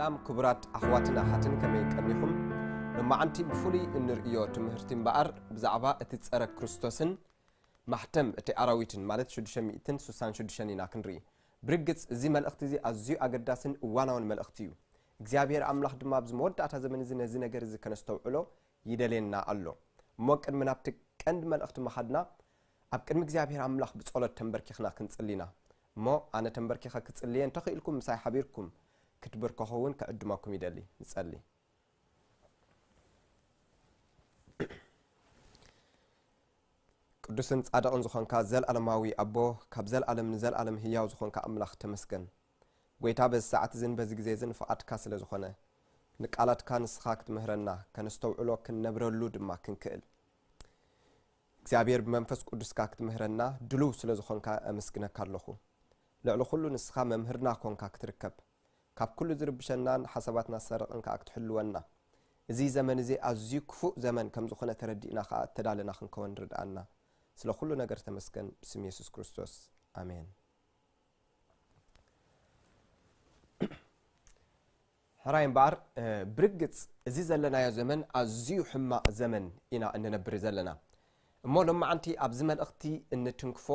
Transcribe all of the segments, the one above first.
ሰላም ክቡራት ኣሕዋትን ኣሓትን ከመይ ቀኒኹም ሎማዓንቲ ብፍሉይ እንርእዮ ትምህርቲ እምበኣር ብዛዕባ እቲ ጸረ ክርስቶስን ማሕተም እቲ ኣራዊትን ማለት 666 ኢና ክንርኢ ብርግጽ እዚ መልእኽቲ እዚ ኣዝዩ ኣገዳስን እዋናውን መልእኽቲ እዩ እግዚኣብሄር ኣምላኽ ድማ ኣብዚ መወዳእታ ዘመን እዚ ነዚ ነገር እዚ ከነስተውዕሎ ይደልየና ኣሎ። እሞ ቅድሚ ናብቲ ቀንዲ መልእኽቲ ምኻድና ኣብ ቅድሚ እግዚኣብሄር ኣምላኽ ብጸሎት ተምበርኪኽና ክንጽሊ ኢና። እሞ ኣነ ተምበርኪኸ ክጽሊ እየ እንተ ኽኢልኩም ምሳይ ሓቢርኩም ክትብርከኹ እውን ክዕድመኩም ይደሊ። ንጸሊ። ቅዱስን ጻድቕን ዝኾንካ ዘልኣለማዊ ኣቦ ካብ ዘልኣለም ንዘልኣለም ህያው ዝኾንካ ኣምላኽ ተመስገን። ጐይታ በዚ ሰዓት'ዝን በዚ ግዜ'ዝን ፍቓድካ ስለ ዝኾነ፣ ንቃላትካ ንስኻ ክትምህረና፣ ከነስተውዕሎ ክንነብረሉ ድማ ክንክእል፣ እግዚኣብሔር ብመንፈስ ቅዱስካ ክትምህረና ድሉው ስለ ዝኾንካ ኣመስግነካ ኣሎኹ። ልዕሊ ኹሉ ንስኻ መምህርና ኰንካ ክትርከብ፣ ካብ ኩሉ ዝርብሸናን ሓሳባትና ዝሰርቕን ከኣ ክትሕልወና፣ እዚ ዘመን'ዚ ኣዝዩ ክፉእ ዘመን ከም ዝኾነ ተረዲእና ከኣ እተዳለና ክንከወን ርድኣና። ስለ ኩሉ ነገር ተመስገን ብስም የሱስ ክርስቶስ ኣሜን። ሕራይ እምበኣር ብርግጽ እዚ ዘለናዮ ዘመን ኣዝዩ ሕማቕ ዘመን ኢና እንነብር ዘለና እሞ ሎማዓንቲ ኣብዚ መልእኽቲ እንትንክፎ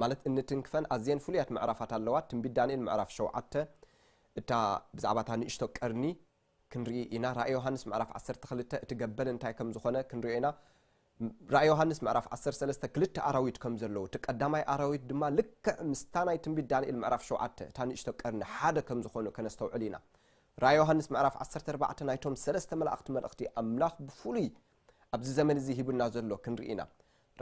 ማለት እንትንክፈን ኣዝየን ፍሉያት ምዕራፋት ኣለዋ ትንቢት ዳንኤል ምዕራፍ ሸውዓተ እታ ብዛዕባ እታ ንእሽቶ ቀርኒ ክንርኢ ኢና ራእይ ዮሃንስ ምዕራፍ ዓሰርተ ክልተ እቲ ገበል እንታይ ከም ዝኾነ ክንሪኦ ኢና ራእይ ዮሃንስ ምዕራፍ ዓሰርተ ሰለስተ ክልተ ኣራዊት ከም ዘለዉ እቲ ቀዳማይ ኣራዊት ድማ ልክዕ ምስታ ናይ ትንቢት ዳንኤል ምዕራፍ ሸውዓተ እታ ንእሽቶ ቀርኒ ሓደ ከም ዝኾኑ ከነስተውዕል ኢና ራእይ ዮሃንስ ምዕራፍ ዓሰርተ ኣርባዕተ ናይቶም ሰለስተ መላእኽቲ መልእኽቲ ኣምላኽ ብፍሉይ ኣብዚ ዘመን እዚ ሂቡና ዘሎ ክንርኢ ኢና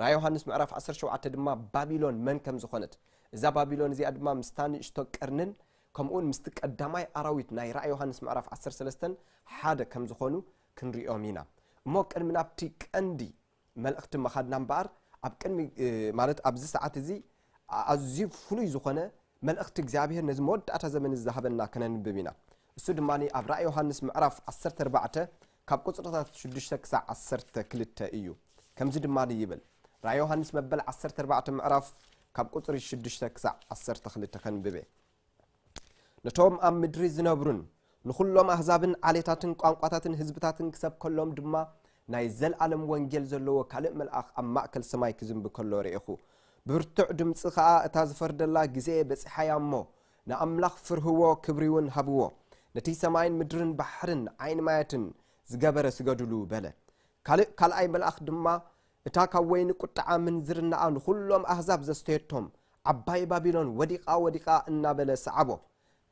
ራእይ ዮሃንስ ምዕራፍ ዓሰርተ ሸውዓተ ድማ ባቢሎን መን ከም ዝኾነት እዛ ባቢሎን እዚኣ ድማ ምስታ ንእሽቶ ቀርንን ከምኡውን ምስቲ ቀዳማይ ኣራዊት ናይ ራእይ ዮሃንስ ምዕራፍ ዓሰርተ ሰለስተ ሓደ ከም ዝዀኑ ክንርእዮም ኢና። እሞ ቅድሚ ናብቲ ቀንዲ መልእኽቲ ምኻድና እምበኣር፣ ኣብ ቅድሚ ማለት ኣብዚ ሰዓት እዚ ኣዝዩ ፍሉይ ዝዀነ መልእኽቲ እግዚኣብሄር ነዚ መወዳእታ ዘመን እዚ ዝሃበና ከነንብብ ኢና። እሱ ድማ ኣብ ራእይ ዮሃንስ ምዕራፍ ዓሰርተ ኣርባዕተ ካብ ቁጽርታት ሽዱሽተ ክሳዕ ዓሰርተ ክልተ እዩ። ከምዚ ድማ ይብል፣ ራእይ ዮሃንስ መበል ዓሰርተ ኣርባዕተ ምዕራፍ ካብ ቁጽሪ ሽዱሽተ ክሳዕ ዓሰርተ ክልተ ከንብብ እየ። ነቶም ኣብ ምድሪ ዝነብሩን ንዅሎም ኣህዛብን ዓሌታትን ቋንቋታትን ህዝብታትን ክሰብከሎም ድማ ናይ ዘልኣለም ወንጌል ዘለዎ ካልእ መልኣኽ ኣብ ማእከል ሰማይ ክዝንቢ ከሎ ርኤኹ። ብብርቱዕ ድምጺ ኸኣ እታ ዝፈርደላ ግዜየ በጺሓ እያ እሞ፣ ንኣምላኽ ፍርህዎ ክብሪውን ሃብዎ፣ ነቲ ሰማይን ምድርን ባሕርን ዓይኒ ማያትን ዝገበረ ስገዱሉ በለ። ካልእ ካልኣይ መልኣኽ ድማ እታ ካብ ወይኒ ቍጥዓ ምንዝርናኣ ንዅሎም ኣህዛብ ዘስተየቶም ዓባይ ባቢሎን ወዲቓ ወዲቓ እናበለ ሰዓቦ።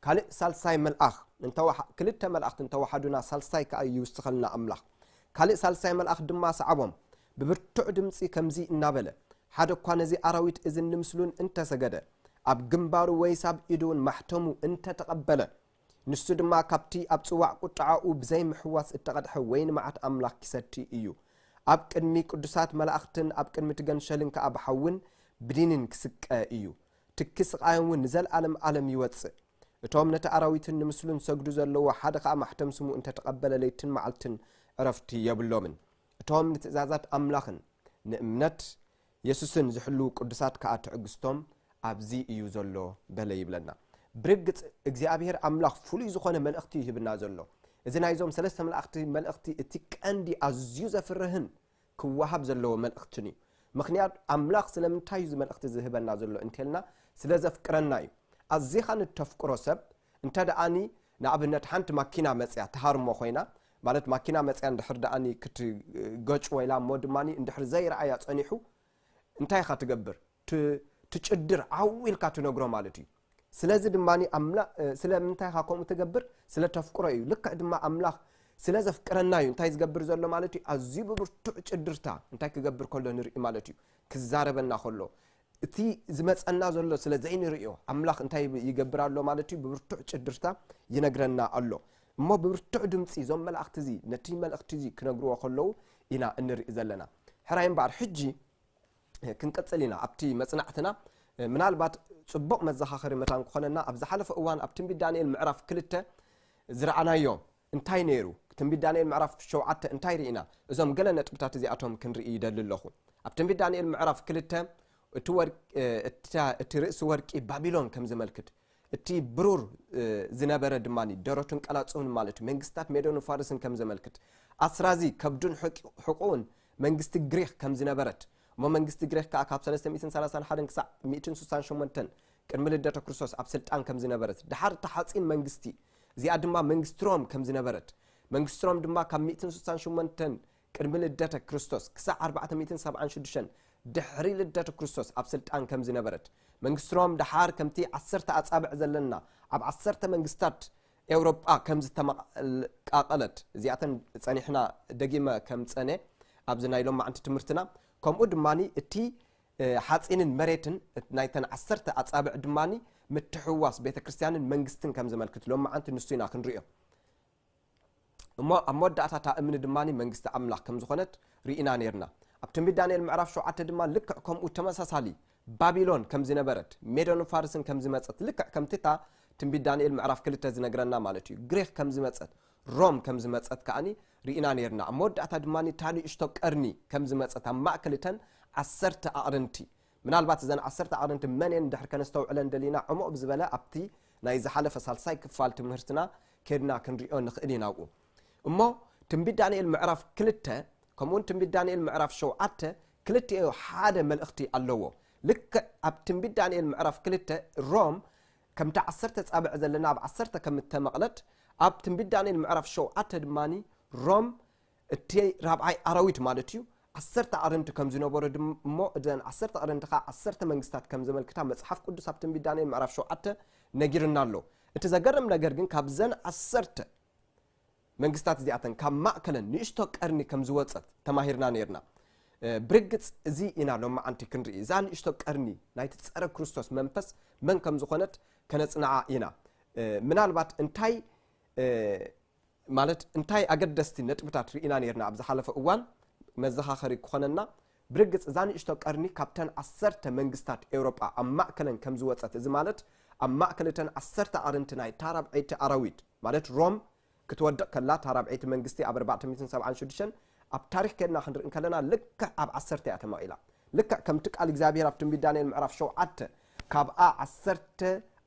ካልእ ሳልሳይ መልኣኽ እንተ ክልተ መላእኽቲ እንተ ወሓዱና ሳልሳይ ከኣ ይውስኸልና ኣምላኽ ካልእ ሳልሳይ መልኣኽ ድማ ሰዓቦም ብብርቱዕ ድምጺ ከምዚ እናበለ፣ ሓደ እኳ ነዚ ኣራዊት እዝን ንምስሉን እንተ ሰገደ፣ ኣብ ግምባሩ ወይስ ኣብ ኢዱውን ማሕተሙ እንተ ተቐበለ፣ ንሱ ድማ ካብቲ ኣብ ጽዋዕ ቍጥዓኡ ብዘይምሕዋስ እተቐድሐ ወይኒ መዓት ኣምላኽ ኪሰቲ እዩ፣ ኣብ ቅድሚ ቅዱሳት መላእኽትን ኣብ ቅድሚ እቲ ገንሸልን ከኣ ብሓውን ብዲንን ኪስቀ እዩ፣ ትኪ ስቓዮምውን ንዘለኣለም ኣለም ይወጽእ። እቶም ነቲ ኣራዊትን ንምስሉን ዚሰግዱ ዘለዉ፣ ሓደ ኸኣ ማሕተም ስሙ እንተ ተቐበለ ለይትን መዓልትን ዕረፍቲ የብሎምን። እቶም ንትእዛዛት ኣምላኽን ንእምነት የሱስን ዚሕልዉ ቅዱሳት ከኣ ትዕግስቶም ኣብዚ እዩ ዘሎ በለ ይብለና። ብርግጽ እግዚኣብሄር ኣምላኽ ፍሉይ ዝኾነ መልእኽቲ እዩ ሂብና ዘሎ። እዚ ናይዞም ሰለስተ መላእኽቲ መልእኽቲ እቲ ቀንዲ ኣዝዩ ዘፍርህን ክወሃብ ዘለዎ መልእኽትን እዩ። ምኽንያቱ ኣምላኽ ስለምንታይ እዩ እዚ መልእኽቲ እዚ ዝህበና ዘሎ እንተልና ስለ ዘፍቅረና እዩ። ኣዚኻ ንተፍቅሮ ሰብ እንተ ደኣኒ ንኣብነት ሓንቲ ማኪና መጽያ ትሃርሞ ኮይና፣ ማለት ማኪና መጽያ እንድሕር ደኣኒ ክትገጭ ወይላ እሞ ድማ እንድሕር ዘይረኣያ ጸኒሑ፣ እንታይ ኢኻ ትገብር? ት ትጭድር ዓው ኢልካ ትነግሮ ማለት እዩ። ስለዚ ድማ ኣምላኽ ስለምንታይ ኢኻ ከምኡ ትገብር? ስለ ተፍቅሮ እዩ። ልክዕ ድማ ኣምላኽ ስለ ዘፍቅረና እዩ እንታይ ዝገብር ዘሎ ማለት እዩ፣ ኣዝዩ ብብርቱዕ ጭድርታ እንታይ ክገብር ከሎ ንርኢ ማለት እዩ፣ ክዛረበና ከሎ። እቲ ዝመጸና ዘሎ ስለ ዘይንርእዮ ኣምላኽ እንታይ ይገብር ኣሎ ማለት እዩ ብብርቱዕ ጭድርታ ይነግረና ኣሎ እሞ ብብርቱዕ ድምፂ እዞም መላእኽቲ እዚ ነቲ መልእኽቲ እዚ ክነግርዎ ከለዉ ኢና እንርኢ ዘለና ሕራይ እምበኣር ሕጂ ክንቅጽል ኢና ኣብቲ መጽናዕትና ምናልባት ጽቡቕ መዘኻኸሪ መታን ክኾነና ኣብ ዝሓለፈ እዋን ኣብ ትንቢት ዳንኤል ምዕራፍ ክልተ ዝረኣናዮ እንታይ ነይሩ? ትንቢት ዳንኤል ምዕራፍ ሸውዓተ እንታይ ርኢና? እዞም ገለ ነጥብታት እዚኣቶም ክንርኢ ይደሊ ኣለኹ። ኣብ ትንቢት ዳንኤል ምዕራፍ ክልተ እቲ ርእሲ ወርቂ ባቢሎን ከም ዝመልክት እቲ ብሩር ዝነበረ ድማ ደረቱን ቀላፅሁን ማለት እዩ መንግስታት ሜዶንን ፋርስን ከም ዘመልክት ኣስራዚ ከብዱን ሕቁኡን መንግስቲ ግሪክ ከም ዝነበረት እሞ መንግስቲ ግሪክ ከዓ ካብ 331 ክሳዕ 168 ቅድሚ ልደተ ክርስቶስ ኣብ ስልጣን ከም ዝነበረት ድሓር እቲ ሓፂን መንግስቲ እዚኣ ድማ መንግስቲ ሮም ከም ዝነበረት፣ መንግስቲ ሮም ድማ ካብ ሚእትን ስሳን ሸሞንተን ቅድሚ ልደተ ክርስቶስ ክሳዕ ኣርባዕተ ሚእትን ሰብዓን ሽዱሽተን ድሕሪ ልደተ ክርስቶስ ኣብ ስልጣን ከም ዝነበረት፣ መንግስቲ ሮም ደሓር ከምቲ ዓሰርተ ኣጻብዕ ዘለና ኣብ ዓሰርተ መንግስታት ኤውሮጳ ከም ዝተመቓቐለት፣ እዚኣተን ጸኒሕና ደጊመ ከምጸነ ኣብዚ ናይ ሎማዕንቲ ትምህርትና፣ ከምኡ ድማ እቲ ሓጺንን መሬትን ናይተን ዓሰርተ ኣጻብዕ ድማ ምትሕውዋስ ቤተ ክርስቲያንን መንግስትን ከም ዘመልክት ሎማዓንቲ ንሱ ኢና ክንሪኦ እሞ ኣብ መወዳእታ እታ እምኒ ድማ መንግስቲ ኣምላኽ ከም ዝኾነት ርኢና ነርና ኣብ ትንቢት ዳንኤል ምዕራፍ ሸውዓተ ድማ ልክዕ ከምኡ ተመሳሳሊ ባቢሎን ከም ዝነበረት ሜዶን ፋርስን ከም ዝመፀት ልክዕ ከምቲ እታ ትንቢት ዳንኤል ምዕራፍ ክልተ ዝነግረና ማለት እዩ ግሪክ ከም ዝመፀት ሮም ከም ዝመጸት ከኣ ርኢና ኔርና። ኣብ መወዳእታ ድማ እታ ንእሽቶ ቀርኒ ከም ዝመጸት ኣብ ማእከል እተን ዓሰርተ ኣቕርንቲ። ምናልባት እዘን ዓሰርተ ኣቕርንቲ መን እየን ድሕር ከነስተውዕለን ደሊና ዕሙቕ ብዝበለ ኣብቲ ናይ ዝሓለፈ ሳልሳይ ክፋል ትምህርትና ኬድና ክንርእዮ ንኽእል ኢና። ኣብኡ እሞ ትንቢት ዳንኤል ምዕራፍ ክልተ ከምኡውን ትንቢት ዳንኤል ምዕራፍ ሸውዓተ ክልቲኡ ሓደ መልእኽቲ ኣለዎ። ልክዕ ኣብ ትንቢት ዳንኤል ምዕራፍ ክልተ ሮም ከምቲ ዓሰርተ ጻብዕ ዘለና ኣብ ዓሰርተ ከም እተመቕለት፣ ኣብ ትንቢት ዳንኤል ምዕራፍ ሸውዓተ ድማ ሮም እቲ ራብዓይ ኣራዊት ማለት እዩ፣ ዓሰርተ ኣዕርንቲ ከም ዝነበሮ ድም እሞ እዘን ዓሰርተ ኣዕርንቲ ኸኣ ዓሰርተ መንግስታት ከም ዘመልክታ መጽሓፍ ቅዱስ ኣብ ትንቢት ዳንኤል ምዕራፍ ሸውዓተ ነጊሩና ኣሎ። እቲ ዘገርም ነገር ግን ካብዘን ዓሰርተ መንግስታት እዚኣተን ካብ ማእከለን ንእሽቶ ቀርኒ ከም ዝወጸት ተማሂርና ነይርና። ብርግጽ እዚ ኢና ሎምዓንቲ ክንርኢ፣ እዛ ንእሽቶ ቀርኒ ናይቲ ጸረ ክርስቶስ መንፈስ መን ከም ዝኾነት ከነጽንዓ ኢና። ምናልባት እንታይ ማለት እንታይ ኣገደስቲ ነጥብታት ርኢና ነይርና ኣብ ዝሓለፈ እዋን መዘኻኸሪ ክኾነና ብርግጽ እዛ ንእሽቶ ቀርኒ ካብተን ዓሰርተ መንግስታት ኤውሮጳ ኣብ ማእከለን ከም ዝወጸት እዚ ማለት ኣብ ማእከል እተን ዓሰርተ ኣዕርንቲ ናይ እታ ራብዐይቲ ኣራዊት ማለት ሮም ክትወድቕ ከላ እታ ራብዐይቲ መንግስቲ ኣብ ኣርባዕተ ሚእትን ሰብዓን ሽዱሽተን ኣብ ታሪኽ ኬድና ክንርኢ እንከለና ልክዕ ኣብ ዓሰርተ እያ ተመቒላ ልክዕ ከምቲ ቃል እግዚኣብሄር ኣብ ትንቢት ዳንኤል ምዕራፍ ሸውዓተ ካብኣ ዓሰርተ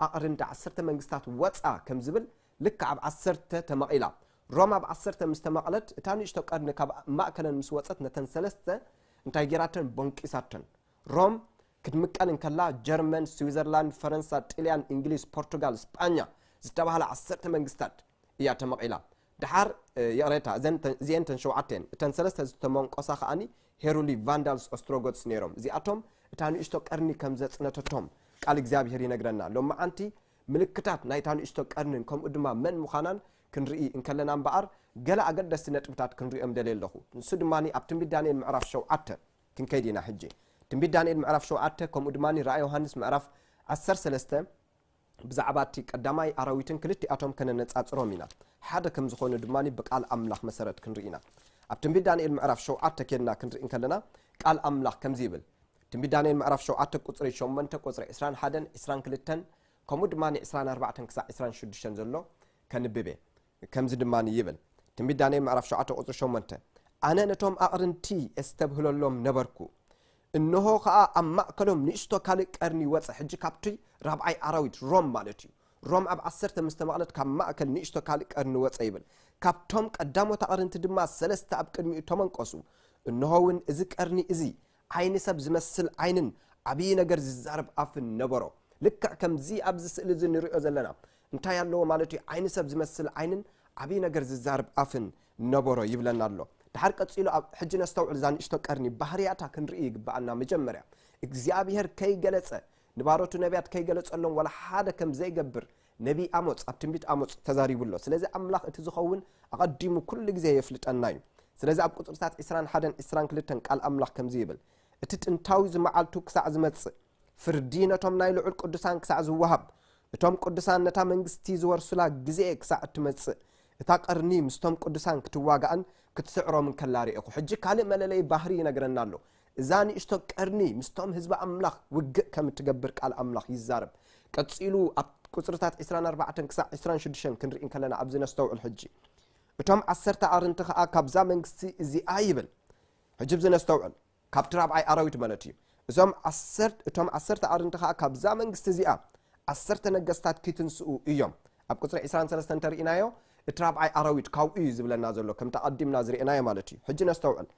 ኣዕርንቲ ዓሰርተ መንግስታት ወጻ ከም ዝብል ልክዕ ኣብ ዓሰርተ ተመቒላ። ሮም ኣብ ዓሰርተ ምስ ተመቕለት፣ እታ ንእሽቶ ቀርኒ ካብ ማእከለን ምስ ወጸት ነተን ሰለስተ እንታይ ገይራተን? ቦንቂሳተን። ሮም ክትምቀል እንከላ፣ ጀርመን፣ ስዊዘርላንድ፣ ፈረንሳ፣ ጥልያን፣ እንግሊዝ፣ ፖርቱጋል፣ ስጳኛ ዝተባህላ ዓሰርተ መንግስታት እያ ተመቒላ። ደሓር ይቕሬታ እዘን እዚኤን እተን ሸውዓተ እየን። እተን ሰለስተ ዝተመንቆሳ ከኣኒ ሄሩሊ፣ ቫንዳልስ፣ ኦስትሮጎትስ ነይሮም። እዚኣቶም እታ ንእሽቶ ቀርኒ ከም ዘጽነተቶም ቃል እግዚኣብሄር ይነግረና። ሎምዓንቲ ምልክታት ናይታ ንእሽቶ ቀርኒን ከምኡ ድማ መን ምዃናን ክንርኢ እንከለና እምበኣር፣ ገለ ኣገደስቲ ነጥብታት ክንርእዮም ደልየ ኣለኹ። ንሱ ድማ ኣብ ትንቢት ዳንኤል ምዕራፍ ሸውዓተ ክንከይድ ኢና ሕጂ። ትንቢት ዳንኤል ምዕራፍ ሸውዓተ ከምኡ ድማ ራእይ ዮሃንስ ምዕራፍ ዓሰርተ ሰለስተ ብዛዕባ እቲ ቀዳማይ ኣራዊትን ክልቲኣቶም ከነነጻጽሮም ኢና። ሓደ ከም ዝዀኑ ድማ ብቃል ኣምላኽ መሰረት ክንርኢ ኢና። ኣብ ትንቢት ዳንኤል ምዕራፍ ሸውዓተ ኬድና ክንርኢ እንከለና ቃል ኣምላኽ ከምዚ ይብል፣ ትንቢት ዳንኤል ምዕራፍ ሸውዓተ ቁጽሪ ሸሞንተ ቁጽሪ ዕስራን ሓደን ዕስራን ክልተን ከምኡ ድማ ዕስራን ኣርባዕተን ክሳዕ ዕስራን ሽዱሽተን ዘሎ ከንብብ እየ ከምዚ ድማ ይብል ትንቢት ዳንኤል ምዕራፍ ሸውዓተ ቁጽሪ ሸሞንተ ኣነ ነቶም ኣቕርንቲ እስተብህለሎም ነበርኩ እንሆ ከዓ ኣብ ማእከሎም ንእስቶ ካልእ ቀርኒ ወፀ ሕጂ ካብቲ ራብዓይ ኣራዊት ሮም ማለት እዩ ሮም ኣብ ዓሰርተ ምስ ተመቕለት ካብ ማእከል ንእስቶ ካልእ ቀርኒ ወፀ ይብል ካብቶም ቀዳሞት ኣቕርንቲ ድማ ሰለስተ ኣብ ቅድሚኡ ተመንቆሱ እንሆ እውን እዚ ቀርኒ እዚ ዓይኒ ሰብ ዝመስል ዓይንን ዓብዪ ነገር ዝዛረብ ኣፍን ነበሮ። ልክዕ ከምዚ ኣብዚ ስእሊ እዚ ንሪኦ ዘለና እንታይ ኣለዎ ማለት እዩ? ዓይኒ ሰብ ዝመስል ዓይንን ዓብዪ ነገር ዝዛረብ ኣፍን ነበሮ ይብለና ኣሎ። ደሓር ቀጺሉ ኣብ ሕጂ ነስተውዕል እዛ ንእሽቶ ቀርኒ ባህርያታ ክንርኢ ይግብኣና። መጀመርያ እግዚኣብሄር ከይገለጸ ንባሮቱ ነብያት ከይገለጸሎም ዋላ ሓደ ከም ዘይገብር ነቢይ ኣሞጽ ኣብ ትንቢት ኣሞጽ ተዛሪቡ ኣሎ። ስለዚ ኣምላኽ እቲ ዝኸውን ኣቐዲሙ ኩሉ ግዜ የፍልጠና እዩ። ስለዚ ኣብ ቁጽርታት ዕስራን ሓደን ዕስራን ክልተን ቃል ኣምላኽ ከምዚ ይብል፣ እቲ ጥንታዊ ዝመዓልቱ ክሳዕ ዝመጽእ፣ ፍርዲ ነቶም ናይ ልዑል ቅዱሳን ክሳዕ ዝወሃብ፣ እቶም ቅዱሳን ነታ መንግስቲ ዝወርሱላ ግዜ ክሳዕ እትመጽእ፣ እታ ቀርኒ ምስቶም ቅዱሳን ክትዋጋእን ክትስዕሮምን ከላ ርኤኹ። ሕጂ ካልእ መለለዪ ባህሪ ይነግረና ኣሎ። እዛ ንእሽቶ ቀርኒ ምስቶም ህዝቢ ኣምላኽ ውግእ ከም እትገብር ቃል ኣምላኽ ይዛረብ። ቀጺሉ ኣብ ቍጽርታት ዕስራን ኣርባዕተን ክሳዕ ዕስራን ሽዱሽተን ክንርኢ እንከለና ኣብዚ ነስተውዕል ሕጂ። እቶም ዓሰርተ ኣርንቲ ኸኣ ካብዛ መንግስቲ እዚኣ ይብል። ሕጂ ኣብዚ ነስተውዕል። ካብቲ ራብዓይ ኣራዊት ማለት እዩ። እዞም ዓሰርተ እቶም ዓሰርተ ኣርንቲ ኸኣ ካብዛ መንግስቲ እዚኣ ዓሰርተ ነገስታት ኪትንስኡ እዮም። ኣብ ቍጽሪ ዕስራን ሰለስተን እንተ ርኢናዮ እቲ ራብዓይ ኣራዊት ካብኡ እዩ ዝብለና ዘሎ ከምቲ ኣቐዲምና ዝርኤናዮ ማለት እዩ። ሕጂ ነስተውዕል።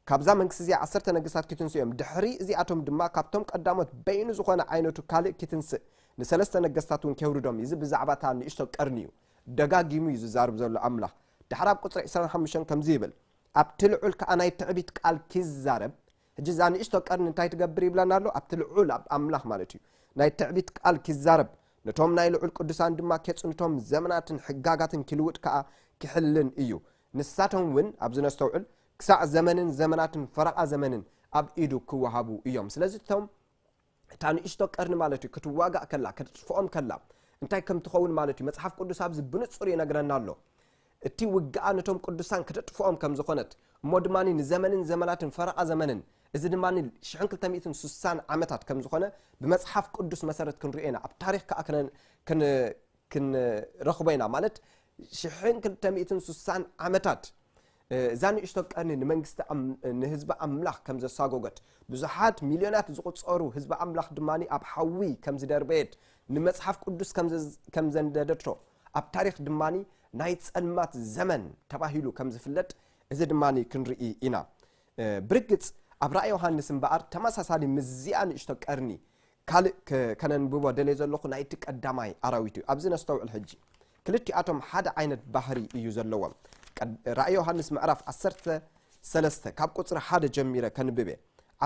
ካብዛ መንግስቲ እዚኣ ዓሰርተ ነገስታት ኪትንስኡ እዮም፣ ድሕሪ እዚኣቶም ድማ ካብቶም ቀዳሞት በይኑ ዝኾነ ዓይነቱ ካልእ ኪትንስእ፣ ንሰለስተ ነገስታት እውን ኬውርዶም እዩ። እዚ ብዛዕባ እታ ንእሽቶ ቀርኒ እዩ ደጋጊሙ እዩ ዚዛረብ ዘሎ። ኣምላኽ ድሓር ኣብ ቍጽሪ ዕስራን ሓሙሽተን ከምዚ ይብል። ኣብቲ ልዑል ከኣ ናይ ትዕቢት ቃል ኪዛረብ፣ ሕጂ እዛ ንእሽቶ ቀርኒ እንታይ ትገብር ይብለና ኣሎ? ኣብቲ ልዑል፣ ኣብ ኣምላኽ ማለት እዩ፣ ናይ ትዕቢት ቃል ኪዛረብ፣ ነቶም ናይ ልዑል ቅዱሳን ድማ ኬጽንቶም፣ ዘመናትን ሕጋጋትን ኪልውጥ ከኣ ኪሕልን እዩ። ንሳቶም እውን፣ ኣብዚ ነስተውዕል፣ ክሳዕ ዘመንን ዘመናትን ፈረቓ ዘመንን ኣብ ኢዱ ክወሃቡ እዮም ስለዚ እቶም እታ ንእሽቶ ቀርኒ ማለት እዩ ክትዋጋእ ከላ ክትጥፍኦም ከላ እንታይ ከም ትኸውን ማለት እዩ መጽሓፍ ቅዱስ ኣብዚ ብንጹር ይነግረና ኣሎ እቲ ውግኣ ነቶም ቅዱሳን ክተጥፍኦም ከም ዝኾነት እሞ ድማ ንዘመንን ዘመናትን ፈረቓ ዘመንን እዚ ድማ 260 ዓመታት ከም ዝኾነ ብመጽሓፍ ቅዱስ መሰረት ክንሪኦ ኢና ኣብ ታሪክ ከዓ ክንረኽቦ ኢና ማለት ሽሕን ክልተ ሚእትን ስሳን ዓመታት እዛ ንእሽቶ ቀርኒ ንመንግስቲ ንህዝቢ ኣምላኽ ከም ዘሳጎገት ብዙሓት ሚልዮናት ዝቑጸሩ ህዝቢ ኣምላኽ ድማ ኣብ ሓዊ ከም ዝደርበየት ንመጽሓፍ ቅዱስ ከም ዘንደደቶ ኣብ ታሪኽ ድማ ናይ ጸልማት ዘመን ተባሂሉ ከም ዝፍለጥ እዚ ድማ ክንርኢ ኢና ብርግጽ ኣብ ራእይ ዮሃንስ እምበኣር ተመሳሳሊ ምስዚኣ ንእሽቶ ቀርኒ ካልእ ከ ከነንብቦ ደልየ ዘለኹ ናይቲ ቀዳማይ ኣራዊት እዩ። ኣብዚ ነስተውዕል ሕጂ። ክልቲኣቶም ሓደ ዓይነት ባህሪ እዩ ዘለዎም። ቀድ ራእይ ዮሃንስ ምዕራፍ ዓሰርተ ሰለስተ ካብ ቁጽሪ ሓደ ጀሚረ ከንብብ እየ።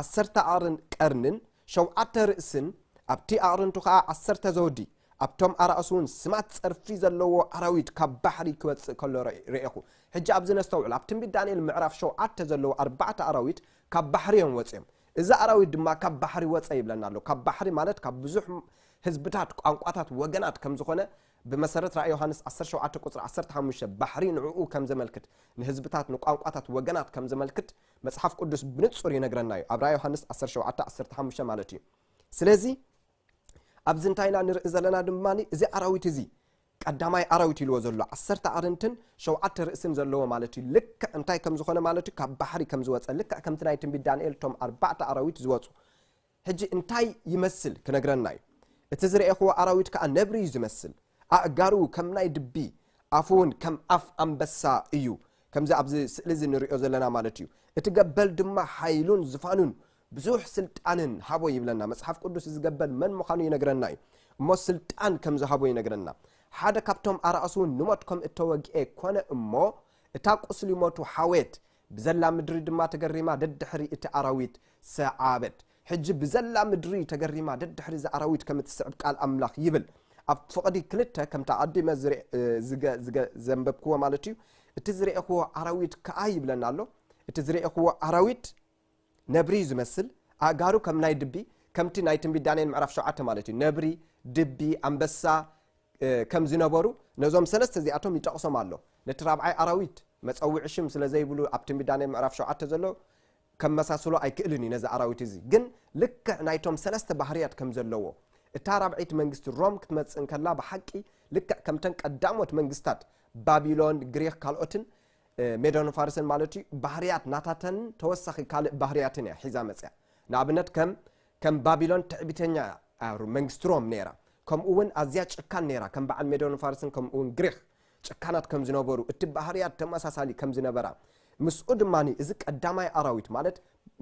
ዓሰርተ ኣቕርን ቀርንን ሸውዓተ ርእስን ኣብቲ ኣቕርንቱ ከኣ ዓሰርተ ዘውዲ ኣብቶም ኣራእሱ እውን ስማት ጸርፊ ዘለዎ ኣራዊት ካብ ባሕሪ ክወጽእ ከሎ ርእ- ርኤኹ። ሕጂ ኣብዚ ነስተውዕል። ኣብ ትንቢት ዳንኤል ምዕራፍ ሸውዓተ ዘለዉ ኣርባዕተ ኣራዊት ካብ ባሕሪ እዮም ወጺኦም። እዚ ኣራዊት ድማ ካብ ባሕሪ ወጸ ይብለና ኣሎ። ካብ ባሕሪ ማለት ካብ ብዙሕ ህዝብታት፣ ቋንቋታት፣ ወገናት ከም ዝኾነ ብመሰረት ራእይ ዮሃንስ ዓሰርተ ሸውዓተ ቁጽሪ ዓሰርተ ሓሙሽተ ባሕሪ ንዕኡ ከም ዘመልክት፣ ንህዝብታት፣ ንቋንቋታት፣ ወገናት ከም ዘመልክት መጽሓፍ ቅዱስ ብንጹር ይነግረና እዩ። ኣብ ራእይ ዮሃንስ ዓሰርተ ሸውዓተ ዓሰርተ ሓሙሽተ ማለት እዩ። ስለዚ ኣብዚ እንታይ ኢና ንርኢ ዘለና ድማ እዚ ኣራዊት እዚ ቀዳማይ ኣራዊት ኢልዎ ዘሎ ዓሰርተ ኣርንትን ሸውዓተ ርእስን ዘለዎ ማለት እዩ ልክዕ እንታይ ከም ዝኾነ ማለት እዩ ካብ ባሕሪ ከም ዝወጸ ልክዕ ከምቲ ናይ ትንቢት ዳንኤል እቶም ኣርባዕተ ኣራዊት ዝወጹ ሕጂ እንታይ ይመስል ክነግረና እዩ እቲ ዝረኤኽዎ ኣራዊት ከኣ ነብሪ እዩ ዝመስል ኣእጋሩ ከም ናይ ድቢ ኣፉ እውን ከም ኣፍ ኣንበሳ እዩ ከምዚ ኣብዚ ስእሊ እዚ ንሪኦ ዘለና ማለት እዩ እቲ ገበል ድማ ሓይሉን ዝፋኑን ብዙሕ ስልጣንን ሃቦ ይብለና መጽሓፍ ቅዱስ ዝገበል መን ምዃኑ ይነግረና እዩ እሞ ስልጣን ከም ዝሃቦ ይነግረና ሓደ ካብቶም ኣራእሱ እውን ንሞት ከም እተወግኤ ኮነ እሞ እታ ቁስሊ ሞቱ ሓዌት ብዘላ ምድሪ ድማ ተገሪማ ደድሕሪ እቲ ኣራዊት ሰዓበት ሕጂ ብዘላ ምድሪ ተገሪማ ደድሕሪ እዚ ኣራዊት ከም እትስዕብ ቃል ኣምላኽ ይብል ኣብ ፍቕዲ ክልተ ከምታ ኣቐዲመ ዘንበብክዎ ማለት እዩ እቲ ዝረኤኽዎ ኣራዊት ከኣ ይብለና ኣሎ እቲ ዝረኤኽዎ ኣራዊት ነብሪ እዩ ዝመስል ኣእጋሩ ከም ናይ ድቢ ከምቲ ናይ ትንቢት ዳንኤል ምዕራፍ ሸውዓተ ማለት እዩ ነብሪ ድቢ ኣንበሳ ከም ዝነበሩ ነዞም ሰለስተ እዚኣቶም ይጠቕሶም ኣሎ ነቲ ራብዓይ ኣራዊት መፀውዒ ሽም ስለ ዘይብሉ ኣብ ትንቢት ዳንኤል ምዕራፍ ሸውዓተ ዘሎ ከመሳስሎ ኣይክእልን እዩ ነዚ ኣራዊት እዚ ግን ልክዕ ናይቶም ሰለስተ ባህርያት ከም ዘለዎ እታ ራብዐይቲ መንግስቲ ሮም ክትመፅእ እንከላ ብሓቂ ልክዕ ከምተን ቀዳሞት መንግስታት ባቢሎን ግሪክ ካልኦትን ሜዶን ፋርስን ማለት እዩ ባህርያት ናታተን ተወሳኺ ካልእ ባህርያትን እያ ሒዛ መጽያ ንኣብነት ከም ከም ባቢሎን ትዕቢተኛ እያ መንግስቲ ሮም ነይራ ከምኡ እውን ኣዝያ ጭካን ነይራ ከም በዓል ሜዶን ፋርስን ከምኡ እውን ግሪኽ ጭካናት ከም ዝነበሩ እቲ ባህርያት ተመሳሳሊ ከም ዝነበራ ምስኡ ድማ እዚ ቀዳማይ ኣራዊት ማለት